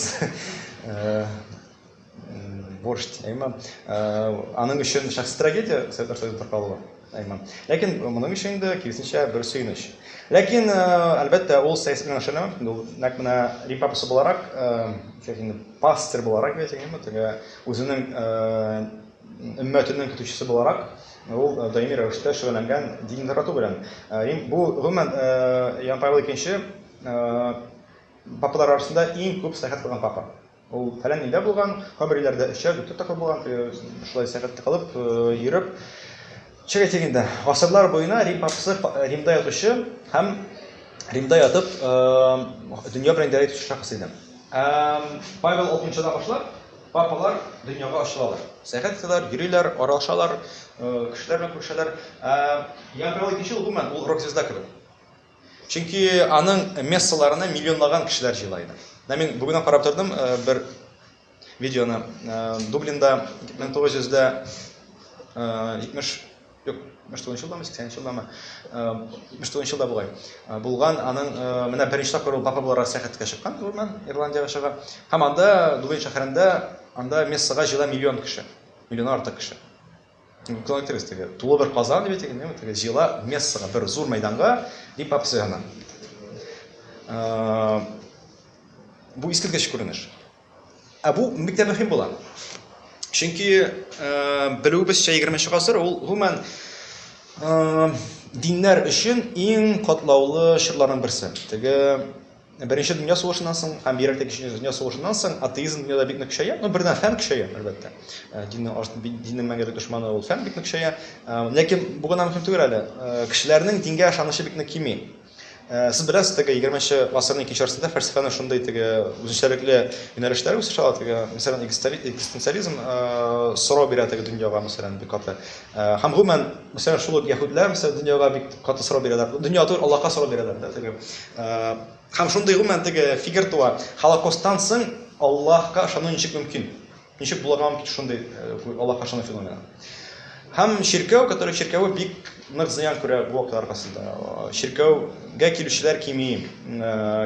борщ әйма. Аның өчен шәхси трагедия Советлар Союзы таркалуы әйма. Ләкин моның өчен инде киресенчә бер сөенеч. Ләкин, әлбәттә, ул сәясәт белән эшләнә. Инде ул нәкъ менә Рим папасы буларак, яки инде пастырь буларак, әйтик, әйма, теге үзенең Өммәтенең көтүчесе буларак, ул даими рәвештә шөгыльләнгән динне тарату белән. Бу, гомумән, Иоанн Павел икенче папалар арасында иң күп сәяхәт кылган папа. Ул фәлән илдә булган, кайбер илләрдә өчәр, дүртәр тапкыр булган, шулай сәяхәт кылып, йөреп. Чык әйтик инде, гасырлар буена Рим папасы Римда ятучы һәм Римда ятып дөнья белән идарә итүче шәхес иде. Павел алтынчыдан башлап папалар дөньяга ачылалар. Сәяхәт итәләр, йөриләр, аралашалар, кешеләр белән күрешәләр. Иоанн Павел икенче ул гомумән ул рок-звезда кебек. Чөнки аның мессаларына миллионлаган кешеләр җыела иде. Менә мин бүгеннән карап тордым, бер Видеоны Дублинда 1970 юк, 79 елдамы, 80 елдамы, 79 елда бугай. Булган аның менә беренче тапкыр ул папа буларак сәяхәткә чыккан Дублиннан, Ирландиягә чыга. Һәм анда Дублин шәһәрендә анда мессага җыела миллион кеше. Миллионнан артык кеше. Коллективист теге, тулы бер казан дип әйтик, инде теге җыела мессага, бер зур мәйданга, дип апсы гына. Бу искиткеч күренеш. Ә бу бик тә мөһим була. Чөнки белүебезчә 20 гасыр ул гомумән диннәр өчен иң катлаулы чорларның берсе. Теге Беренче дөнья сугышыннан соң һәм бигрәк тә Икенче дөнья сугышыннан соң атеизм дөньяда бик нык көчәя. Ну, бердән фән көчәя, әлбәттә. Э, диннең арты, диннең мәңгелек дошманы ул фән бик нык көчәя. Э, ләкин бу гына мөһим түгел әле. Э, кешеләрнең дингә ышанычы бик нык кими. Сез беләсез, теге 20-нче гасырның икенче яртысында фәлсәфәнең шундый теге үзенчәлекле юнәлешләре үсеш ала, теге, мәсәлән, экзистенциализм сорау бирә теге дөньяга, мәсәлән, бик каты. Э, һәм гомумән, мәсәлән, шул ук яһүдләр, мәсәлән, дөньяга бик каты сорау бирәләр. Дөнья түгел, Аллаһка сорау бирәләр да теге. Э, һәм шундый гомумән теге фикер туа. Холокосттан соң Аллаһка ышану ничек мөмкин? Ничек булырга мөмкин шундый э, Аллаһка ышану феномены? Һәм чиркәү, который чиркәве бик нык зыян күрә бу вакытлар аркасында. Чиркәүгә килүчеләр кими,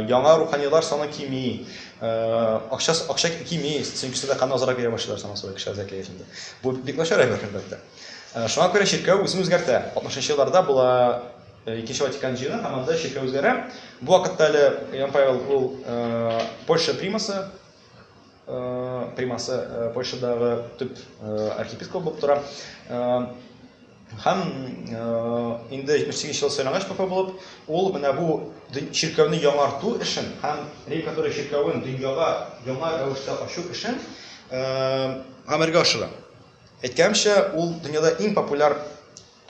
яңа руханилар саны кими. Акча, акча кими, сөңкесе дә кан азрак йөрә башлар саңа соңрак кешеләр зәкәй эшендә. Бу бик начар әйбер, әлбәттә. Шуңа күрә чиркәү үзен үзгәртә. 60-нчы елларда була Икенче Ватикан җыены һәм анда чиркәү үзгәрә. Бу вакытта әле Иоанн Павел ул Польша примасы, примасы Польшадагы төп архиепископ булып тора. Һәм инде 78 ел сайлангач папа булып, ул менә бу чиркәүне яңарту эшен һәм Рей-Католик чиркәвен дөньяга яңа рәвештә ачу эшен гамәлгә ашыра. Әйткәнемчә, ул дөньяда иң популяр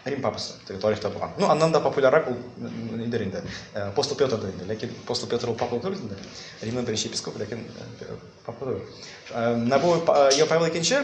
Рим папасы, теге тарихта булган. Ну, аннан да популяррак ул нидер инде, апостол Петр да инде, ләкин апостол Петр ул папа түгел инде. Римның беренче епископы, ләкин папа түгел. Менә бу Павел икенче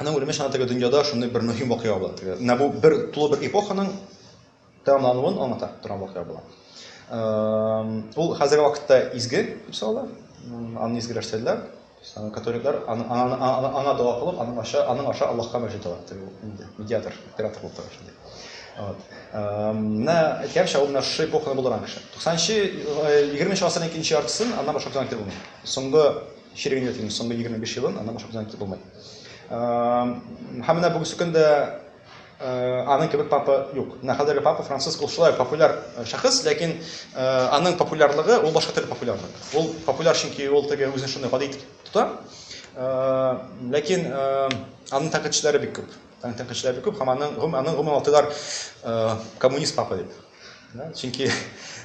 Аның үлеме шуна теге дөньяда шундый бер мөһим вакыйга була. Теге менә бу бер тулы бер эпоханың тәмамлануын аңлата торган вакыйга була. Ул хәзерге вакытта изге дип санала. Аны изге рәшәтләр, католиклар аны аны аны дога кылып, аның аша аның аша Аллаһка мәҗит ала. Теге инде медиатор, император булып тора шундый. Вот. Менә әйткәнчә ул менә шушы эпоханы булдырган кеше. 90 нчы 20 нчы гасырның икенче яртысын аннан башка көн әйтеп булмый. Соңгы Черегән ятимнең соңгы егерме биш елын аннан башка күзәнәк итеп булмый. Һәм менә бүгенге көн дә аның кебек папа юк. Менә хәзерге папа Франциск ул шулай популяр шәхес, ләкин аның популярлыгы ул башка төрле популярлык. Ул популяр чөнки ул теге үзен шундый гади итеп тота. Ләкин аның тәнкыйтьчеләре бик күп. Аның тәнкыйтьчеләре бик күп һәм аның гомумән атыйлар коммунист папа дип. чөнки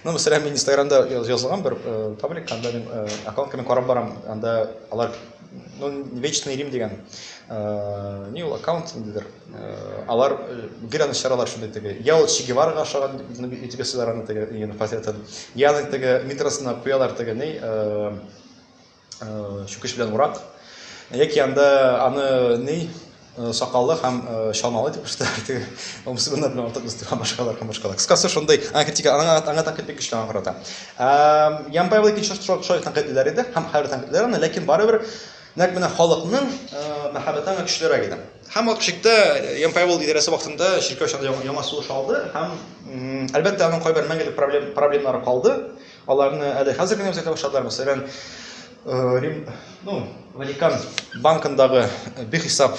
ну мәсәлән мин инстаграмда язылган бер паблик анда мин аккаунтка мин карап барам анда алар ну вечный рим дигән не ул аккаунт ниндидер алар гел аны чыгаралар шундый теге я ул че гевараға охшаган итеп ясыйлар аны теге нигә портретын я аны теге метросына куялар теге ни чүкеч белән урак, яки анда аны ни сакаллы һәм чалмалы дип күрсәтәләр теге мусульманнар белән артык без торган башкалар һәм башкалар кыскасы шундый критика аңа аңа тәнкыйть бик көчле аңа карата ямпаева икенче шулай тәнкыйтьлиләр иде һәм хәзер тәнкыйтьлиләр аны ләкин барыбер нәкъ менә халыкның мәхәббәте аңа көчлерәк иде һәм ул шикте ямпаева идарәсе вакытында чиркәү чорында яңа сулыш алды һәм әлбәттә аның кайбер мәңгелек проблемалары калды Аларны әле хәзер генә үзгәртә башладылар. Мәсәлән, Рим, ну, Ватикан банкындагы бихисап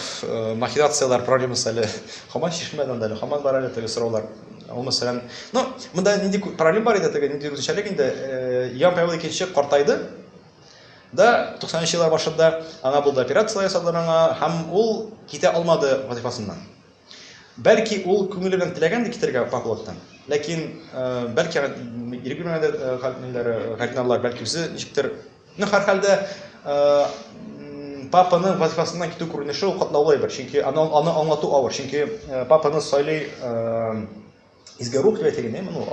махинацияләр проблемасы әле хаман чишелмәде анда әле, хаман бар әле теге сораулар. Ул мәсәлән, ну, монда нинди проблем бар иде теге, нинди үзенчәлек инде, Ян Павел икенче картайды, да 90-нчы еллар башында аңа булды операцияләр ясадылар аңа һәм ул китә алмады вазифасыннан. Бәлки ул күңеле белән теләгән дә китәргә походтан. Ләкин бәлки ирек бирмәгән дә хәлләре, гәрнәллар бәлки үзе ничектер. Ну, һәр хәлдә папаны вазифасыннан китү күренеше ул катлаулы әйбер. Чөнки аны аны аңлату авыр. Чөнки папаны сайлый Изге рух дип әйтелгән, моны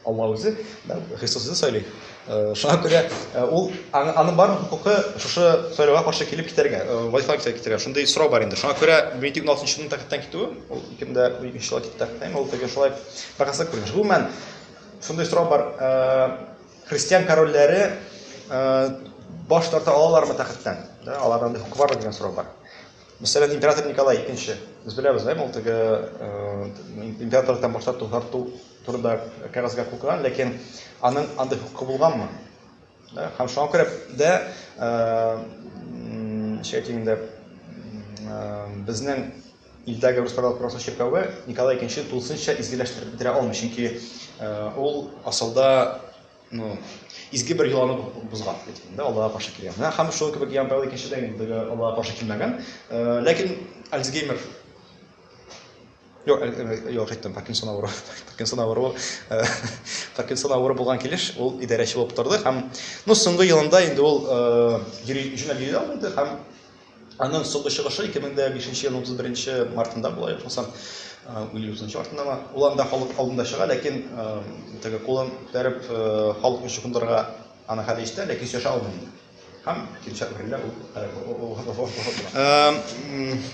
Алла үзе, да, Христос үзе сөйли. Э, шуңа күрә э, ул аның бар хукукы шушы сайлауга каршы килеп китәргә, э, вазифа китәргә китәргә. Шундый сорау бар инде. Шуңа күрә 16 елның тәхеттән китүе, ул кемдә 3 ел китте тәхеттән, ул теге шулай бакасак күренеш. Гомумән шундый сорау бар. Христиан корольләре баш тарта алалармы тәхеттән? Да, аларда хукук бар дигән сорау бар. Мәсәлән, император Николай II, без беләбез, да, ул теге императордан башлап тугарту турында кәгазьгә кул куйган, ләкин аның андый хукукы булганмы? Да, һәм шуңа күрә дә шәйтим инде безнең илдәге рус православие чиркәве Николай II тулысынча изгеләштереп бетерә алмый, чөнки ул асылда ну, изге бер йоланы бозган әйтелгәндә аллага каршы килгән менә һәм шул кебек ян тәү икенче дәгендәге аллага каршы килмәгән ләкин альцгеймер юк юк әйттем паркинсон авыру паркинсон авыру паркинсон авыру булган килеш ул идарәче булып торды һәм ну соңгы елында инде ул йөри җүнәп йөри алмады һәм Аның соңгы чыгышы 2005 елның 31 мартында була, ичмасам, үле узынчы артындамы. Ул анда халык алдында чыга, ләкин теге кулын күтәреп халыкны чукындырырга аны хәле ишетә, ләкин сөйләшә алмый инде. Һәм килешә берлә ул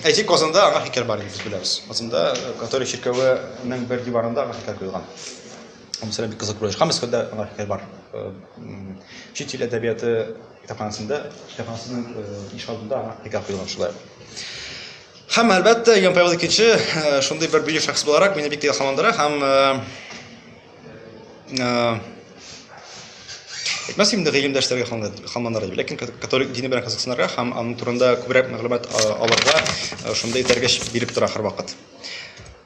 Әти Казанда аңа хикәр бар инде беләбез. Казанда католик чиркәвенең бер диварында аңа хикәр куелган. Һәм сәләм бик кызык күреш. Һәм Мәскәүдә аңа хикәр бар. Чит ил әдәбияты Китапханәсендә, китапханәсенең иш алдында аңа пикап куелган шулай. Һәм әлбәттә, Ян Павел II шундый бер бөек шәхес буларак мине бик илһамландыра һәм Әйтмәс инде гыйлемдәшләргә хамланырга дип, ләкин католик дине белән кызыксынырга һәм аның турында күбрәк мәгълүмат алырга шундый этәргеч биреп тора һәрвакыт.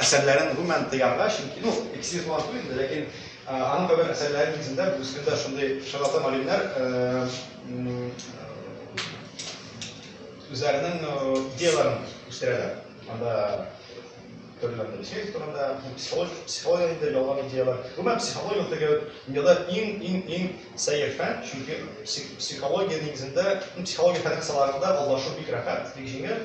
әсәрләрен гомумән тыярга, чөнки, ну, икесе дә туган түгел инде, ләкин аның кабер әсәрләре нигезендә бүгенге көндә шундый шарлатан галимнәр үзләренең идеяларын үстерәләр. Анда төрле Моисеев турында, психология, психология инде ялган идеялар. Гомумән психология теге дөньяда иң иң иң сәер фән, чөнки психология нигезендә, психология фәне кысаларында алдашып бик рәхәт, бик җиңел.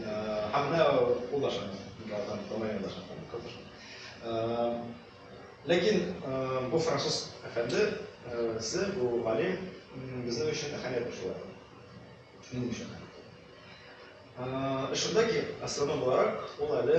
Һәм менә ул да шәп. Бераздан Томаен да шәп. Ләкин бу француз әфәнде се бу галим безнең өчен әһәмиятле шулай. Минем өчен. Шунда ки, астрном буларак, ул әле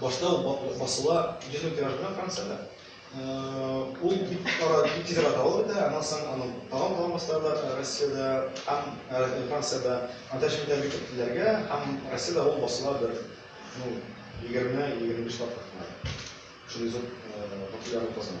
Башта ул басыла йөзем тиражына Франциядә. Ул бик кара бик тиз арада алып бетә, аннан соң аның тагын тагын басалар Россиядә һәм Франциядә, анда шунда бик күпләргә һәм Россиядә ул басыла бер ну 20-25 тапкыр. Шундый зур популярлык казана.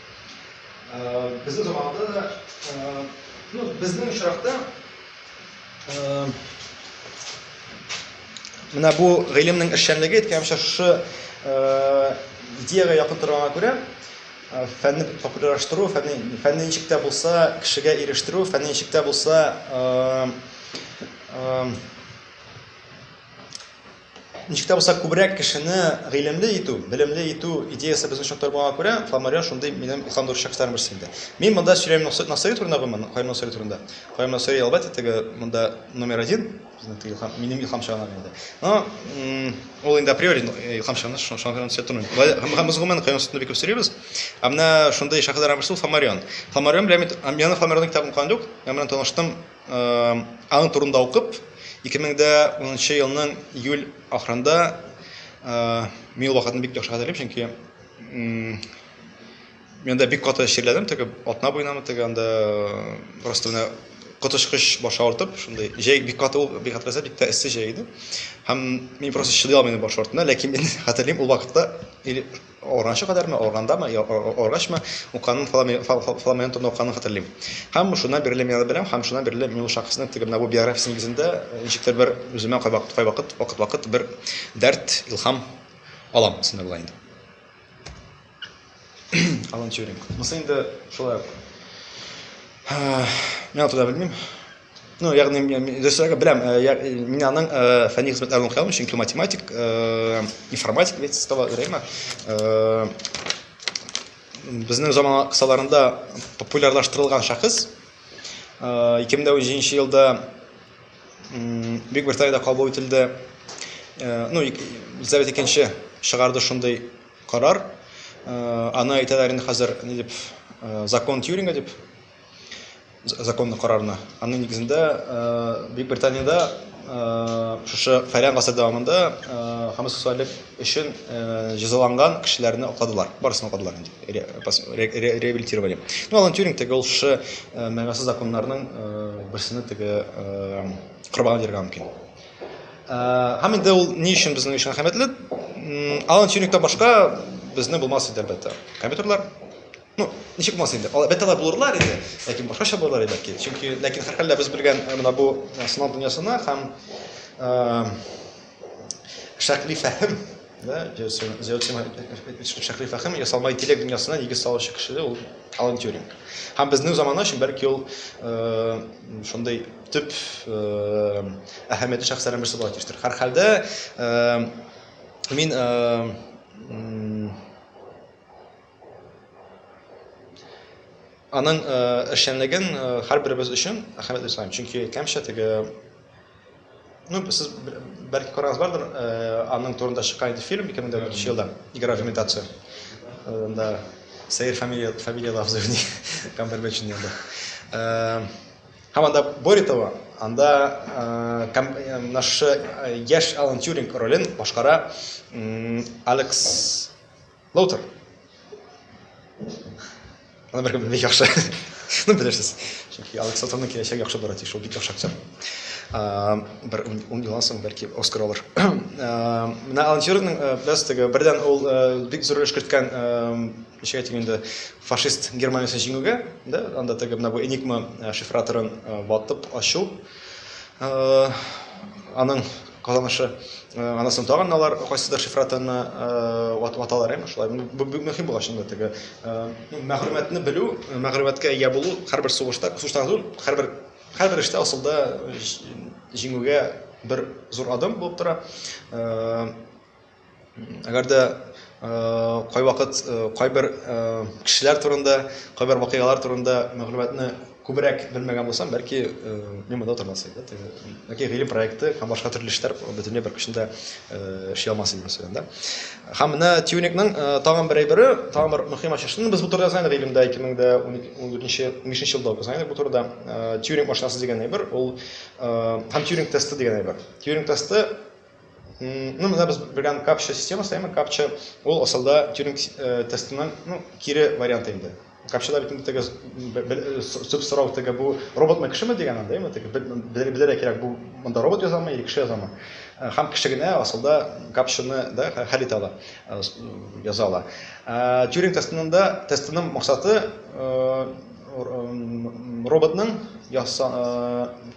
Безнең заманда да, ну, безнең очракта менә бу гыйлемнең эшчәнлеге әйткәнчә шушы идеягә якын торганга күрә, фәнне популярлаштыру, фәнне, фәнне ничек тә булса кешегә ирештерү, фәнне ничек тә булса Ничек тә булса күбрәк кешене гыйлемле итү, белемле итү идеясе безне шок тормаганга күрә, Фламарион шундый минем ислам дөрес шәхесләрнең берсе инде. Мин монда сөйләм Носый Насыйри турында гомумән, Каюм Насыйри турында. Каюм Насыйри, әлбәттә, теге монда номер один, безнең теге илһам, минем илһам чыганагы инде. Но ул инде априори илһам чыганы, шуның шуңа күрә сөйләп тормыйм. Болай һәм һәм без гомумән Каюм Насыйрине бик күп сөйлибез. Ә менә шундый шәхесләрнең берсе ул Фламарион. Фламарион белән мин һәм яны Фламарионның китабын укыган юк, яны белән таныштым Аның турында укып, 2010 елның июль ахырында мин ул вакытны бик яхшы хәтерлим, чөнки Мин анда бик каты чирләдем, теге атна буенамы теге анда просто менә коточкыч баш авыртып, шундый җәй бик каты ул, бик хәтерләсә, бик тә эссе җәй иде. Һәм мин просто чыдый алмадым баш авыртуына, ләкин мин хәтерлим ул вакытта или Органчы кадәрме, органдамы, органчмы укканын, фламеонтоны укканын хәтерлим. Һәм шуннан бирле мин аны беләм, һәм шуннан бирле мин ул шәхеснең теге менә бу биографиясе нигезендә ничектер бер үземә кайвакыт, кайвакыт, вакыт-вакыт бер дәрт, илһам алам, дисәм була инде. Алан Тьюринг. Монысы инде шулай ук. Мин аны да белмим. Ну, ягъни мин режиссерга беләм, мин аның фәнни хезмәтләрен укыям, чөнки математик, информатик бит става грема. Безнең заман кысаларында популярлаштырылган шәхес 2007 елда Бик Британиядә кабул ителде. Ну, Елизавета икенче чыгарды шундый карар. Аны әйтәләр инде хәзер ни дип, закон Тьюринга дип. законлы карарны. Аның нигезендә Бөекбританиядә шушы фәлән гасыр дәвамында гомосексуаллек өчен җәзаланган кешеләрне акладылар. Барысын акладылар инде. Реабилитировали. Ну, Алан Тюринг теге ул шушы мәгънәсез законнарның берсенә теге корбан бирергә мөмкин. Һәм инде ул ни өчен безнең өчен әһәмиятле? Алан Тюрингтан башка безне булмас иде әлбәттә. Компьютерлар Ну, ничек булмас инде. Алар бәтәләр булырлар инде, ләкин башкача булырлар иде бәлки. Чөнки ләкин һәрхәлдә без белгән э, менә бу э, сынау дөньясына һәм э, шәкли фәһем, да, шәкли фәһем ясалма интеллект дөньясына нигез салучы кеше ул Алан Тюринг. Һәм безнең заманы өчен бәлки ул шундый төп әһәмиятле шәхесләрнең берсе булып төштер. Һәрхәлдә мин Аның эшчәнлеген һәрберебез өчен әһәмиятле саныйм, чөнки кәмчә теге ну сез бәлки карагыз бардыр, аның турында чыккан иде фильм 2004 елда Игра в имитацию. Анда Сәер фамилия фамилия лафзы уйный Камбербэтч инде анда. Һәм анда более того, анда наш яшь Алан Тюринг ролен башкара Алекс Лоутер. Аны бер бик яхшы. Шуны белерсез. Чөнки Алекс Лоутерның киләчәге яхшы бара тиеш, ул бик яхшы актер. Бер ун елдан соң бәлки Оскар алыр. Менә Алан Тюрингның без теге бердән ул бик зур эш керткән ничек әйтим инде фашист Германиясен җиңүгә, да, анда теге менә бу Enigma шифраторын ватып ачу. Аның Казанышы, аннан соң тагын алар кайсыдыр шифратаны ваталар, әйме шулай. Бу бик мөһим була чынында теге. Мәгълүматны белү, мәгълүматка ия булу һәрбер сугышта, сугышта түгел, һәрбер һәрбер эштә асылда җиңүгә бер зур адым булып тора. Әгәр дә кайвакыт кайбер кешеләр турында, кайбер вакыйгалар турында мәгълүматны күбрәк белмәгән булсам, бәлки мин монда тормас идем. Бәлки гыйлем проекты һәм башка төрле эшләр бөтенләй бер көчендә эшли алмас идем мәсәлән да. Һәм менә Тюникның тагын бер әйбере, тагын бер мөһим ачышы. Без бу турыда язган идек гыйлемдә 2014-2015 елда язган идек бу турыда. Тюринг машинасы дигән әйбер, ул һәм Тюринг тесты дигән әйбер. Тюринг тесты Ну, менә без белгән капча системасы, әмма капча ул асылда Тюринг э, тестының, ну, кире варианты инде. Капчада бит инде теге сүп сорау теге бу роботмы кешеме дигән анда, әмма теге белергә кирәк бу монда робот язамы, или кеше язамы. Э, һәм кеше генә асылда капчаны да хәл итә ала, э, яза ала. Тюринг тестында тестының максаты Роботның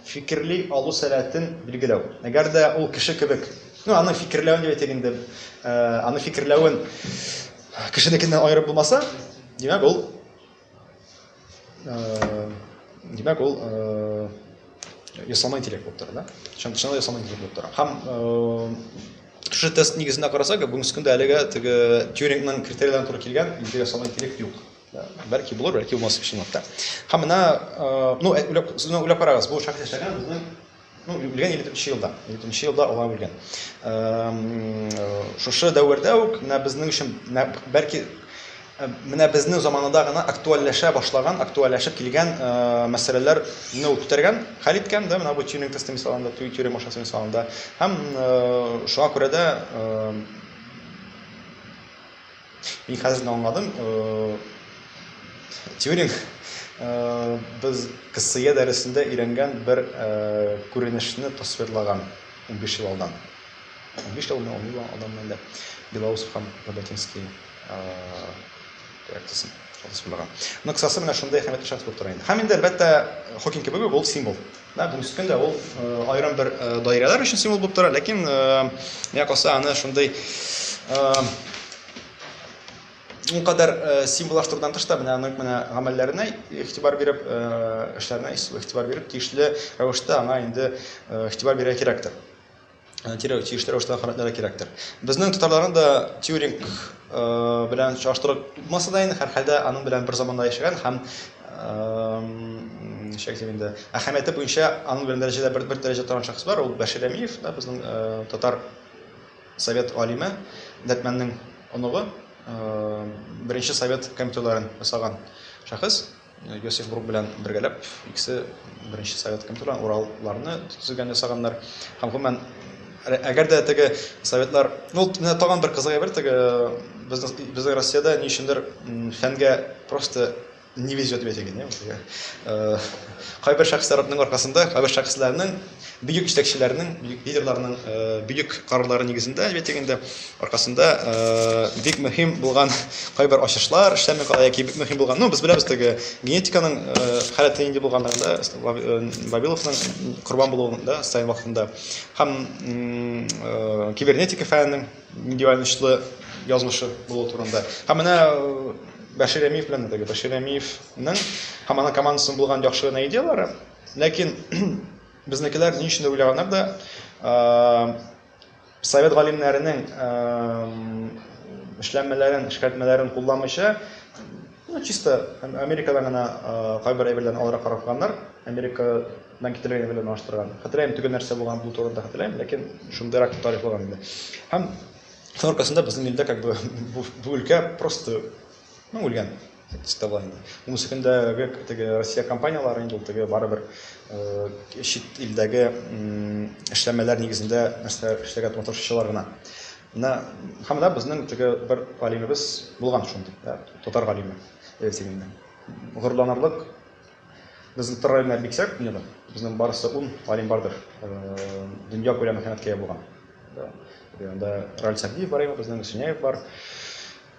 фикерли алу сәләтен билгеләү. Әгәр дә ул кеше кебек, ну, аны фикерләвен дип әйтик инде, аны фикерләвен кешенекеннән аерып булмаса, димәк ул, димәк ул ясалма интеллект булып тора, да? Чынлы ясалма интеллект булып тора. Һәм шушы тест нигезендә карасак, бүгенге көндә әлегә теге Тьюрингның критерийларын туры килгән ясалма интеллект юк. Бәлки булыр, бәлки булмас чынлап та. Һәм менә, ну, үләп, сезне үләп карагыз, бу шәхес яшәгән безнең ну, үлгән 53 елда. 53 елда алар үлгән. Шушы дәвердә үк менә безнең өчен бәлки менә безнең заманында гына актуальләшә башлаган, актуальләшеп килгән мәсьәләләр не үтергән, хәл иткән, да, менә бу тюринг тесты мисалында, тюринг машинасы мисалында. Һәм шуңа күрә дә Мин хәзер генә аңладым. Тьюринг без КСЕ дәресендә өйрәнгән бер күренешне тасвирлаган 15 ел алдан. 15 елны он ел алдан менде. Белоусов һәм Роботинский реакциясен тасвирлаган. Ну, кысасы менә шундый әһәмиятле шәхес булып тора инде. Һәм инде, әлбәттә, Хокинг кебек үк ул символ. Менә бүгенге көндә ул аерым бер даирәләр өчен символ булып тора, ләкин миңа калса аны шундый ул кадәр символлаштырудан тыш та менә аның менә гамәлләренә игътибар биреп, эшләренә игътибар биреп, тиешле рәвештә аңа инде игътибар бирә кирәктер. кирәк, тиешле рәвештә хөрмәтләргә кирәктер. Безнең татарларны да Тьюринг белән чагыштырып булмаса да инде, һәрхәлдә аның белән бер заманда яшәгән һәм ничек дип инде, әһәмияте буенча аның белән дәрәҗәдә бер, бер дәрәҗә торган шәхес бар, ул Бәшир Әмиев, да, безнең татар совет алиме, Дәртмәннең оныгы, беренче совет компьютерларын ясаган шәхес. Йосиф Брук белән бергәләп, икесе Беренче Совет комитетына уралларны төзегән ясаганнар. Һәм гомумән, әгәр дә теге Советлар, ну, менә тагын бер кызык әйбер, теге безнең безнең Россиядә ни өчендер фәнгә просто не везет бит, дигән, кайбер шәхесләрнең аркасында, кайбер шәхесләрнең бөек җитәкчеләрнең, бөек лидерларның бөек карарлары нигезендә, әлбәттә инде, аркасында бик мөһим булган кайбер ачышлар эшләми кала яки бик мөһим булган, ну, без беләбез теге генетиканың халәте нинди булганлыгын да, Вавиловның корбан булуын да, Сталин вакытында, һәм кибернетика фәненең нинди аянычлы язмышы булу турында. Һәм менә Бәшир Әмиев белән теге Бәшир Әмиевның һәм аның командасының булган яхшы гына идеяләре, Ләкин безнекеләр ни өчен дә уйлаганнар да, совет галимнәренең эшләнмәләрен, эшкәртмәләрен кулланмыйча, ну, чисто Америкадан гына кайбер әйберләрне алырга карар кылганнар. Америкадан китерелгән әйберләр белән аштырган. Хәтерләмим, төгәл нәрсә булган бу турында хәтерләмим, ләкин шундыйрак дип тарихлаган инде. Һәм шуның аркасында безнең илдә как бы бу, бу өлкә просто ну, үлгән. Отставание. Ул секундагы теге Россия компанияләре инде ул теге барыбер чит илдәге эшләмәләр нигезендә нәрсә эшләгән маташчылар гына. Менә һәм да безнең теге бер галимебез булган шундый, татар галиме рейтингында. Горланырлык безнең татар галимнәр биксәк, дөньяда безнең барысы 10 галим бардыр. Дөнья күләме хәмәткә булган. Анда Раль Сәбдиев бар, безнең Сүнәев бар.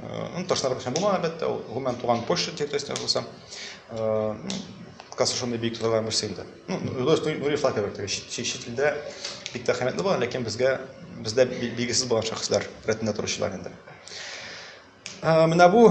Ну, ташлар бәхәм булмаган, әлбәттә, ул гомумән туган почта территориясендә булса, касы шундый биек торган берсе инде. Ну, дөрес, Нури Флака бер теге чит илдә бик тә хәмәтле булган, ләкин безгә бездә билгесез булган шәхесләр рәтендә торучылар инде. Менә бу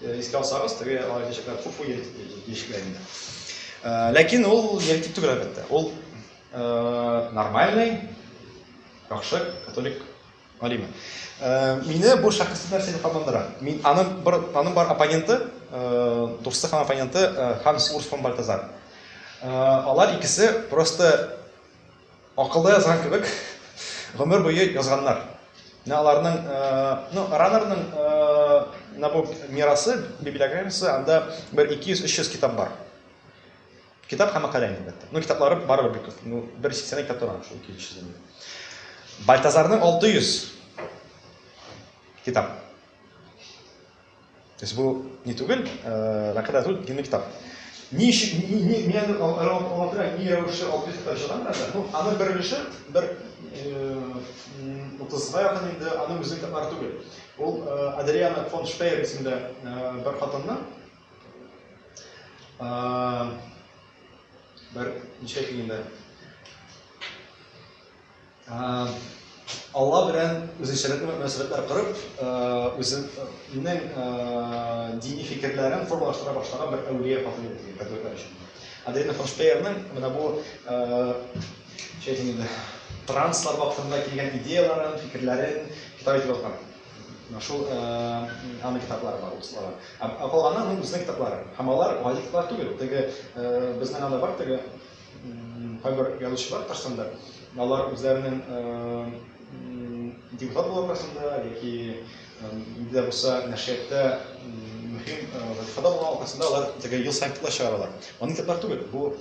Искә алсагыз, теге алар кичәкләр күп уй яшькә инде. Ләкин ул еритик түгел әлбәттә. Ул нормальный, яхшы католик алиме. Мине бу шәхес нәрсә дип кабандыра. Мин аның бер аның бар оппоненты, дусты һәм оппоненты Ханс Урс фон Бальтазар. Алар икесе просто Акылда язган кебек, гомер буе язганнар. Менә аларның, ну, Раннерның менә бу мирасы, библиографиясе, анда бер 200-300 китап бар. Китап һәм мәкалә инде, әлбәттә. Ну, китаплары барыбер бик күп. Ну, бер 80 китап тора шул 200 дән. Бальтазарның 600 китап. То есть бу не түгел, э, мәкалә түгел, динный китап. Ни өчен ни ни ни аны алатырак ни рәвешле алып китә чыгам да, ну, аның бер өлеше бер 30 га якын инде аның үзе китаплар түгел. Ул э, Адриана фон Шпеер исемле э, бер хатынны э, бер ничек инде Алла белән үзенчәлекле мөнәсәбәтләр корып, үзенең дини фикерләрен формалаштыра башлаган бер әүлия хатын иде дигән категорияләр өчен. Аделина фон Шпеерның менә бу шәйтинде транслар вакытында килгән идеяларын, фикерләрен китап итеп алган. Менә шул аны китаплары бар услары. Ә калганнан үзенең китаплары. Һәм алар гади китаплар түгел. Теге безнең анда бар теге Кайбер язучылар Татарстанда, алар үзләренең депутат булу аркасында яки инде дә булса нәшрияттә мөһим вазифада булган аркасында алар теге ел саен китап чыгаралар. Аны китаплар түгел, бу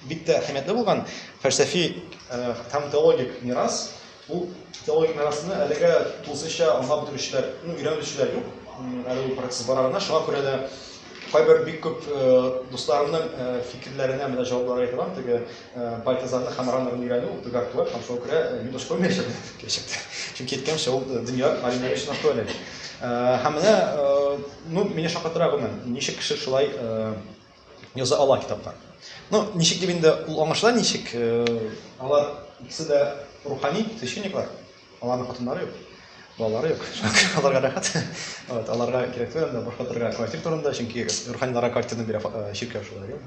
бик тә әһәмиятле булган фәлсәфи һәм теологик мирас. Бу теологик мирасны әлегә тулысынча аңлап бетерүчеләр, ну, өйрәнүчеләр юк. Әле ул процесс бара гына. Шуңа күрә дә кайбер бик күп дусларымның фикерләренә менә җаваплар әйтә алам. Теге Бальтазарны һәм Раннерны өйрәнү бик актуаль һәм шуңа күрә мин башка күрмәячәкмен киләчәктә. Чөнки әйткәнемчә, ул дөнья галимнәре өчен актуаль әле. Һәм менә, ну, мине шаккатыра гомумән, ничек кеше шулай яза ала китапка. Ну, ничек дип инде ул аңлашыла ничек? Э, алар икесе дә рухани священниклар. Аларның хатыннары юк. Балалары юк. Аларга рәхәт. Вот, аларга кирәк түгел инде башка торырга квартира турында, чөнки руханиларга квартираны бирә э, чиркәү шулай юк.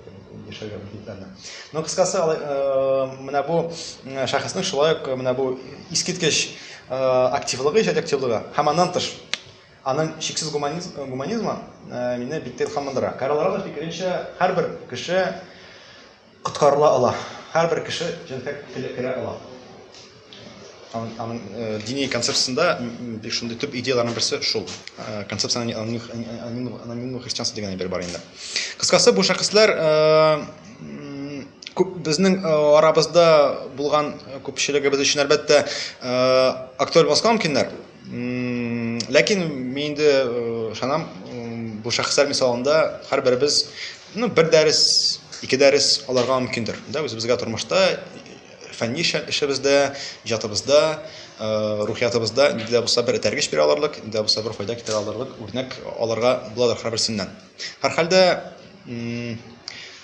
Яшәргә мөмкинлекләрне. Но кыскасы, э, менә бу шәхеснең шулай ук менә бу искиткеч активлыгы, иҗат активлыгы һәм аннан тыш Аның чиксез гуманизм, гуманизмы мине биктә илһамландыра. Карл Равер фикеренчә, һәрбер кеше коткарыла ала, һәрбер кеше җәннәткә килеп керә ала. Аның, аның дини концепциясендә бик шундый төп идеяләрнең берсе шул. Концепция анонимного христианства дигән әйбер бар инде. Кыскасы, бу шәхесләр күп безнең э, арабызда булган э, күпчелегебез өчен әлбәттә э, актуаль булмаска мөмкиннәр ләкин мин инде ышанам бу шәхесләр мисалында һәрберебез ну бер дәрес ике дәрес алырга мөмкиндер да үзебезгә тормышта фәнни эшебездә иҗатыбызда рухиятыбызда нинди дә булса бер этәргеч бирә алырлык нинди дә булса бер файда китерә алырлык үрнәк алырга буладыр һәрберсеннән һәрхәлдә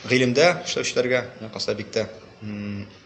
гыйлемдә эшләүчеләргә касабиттә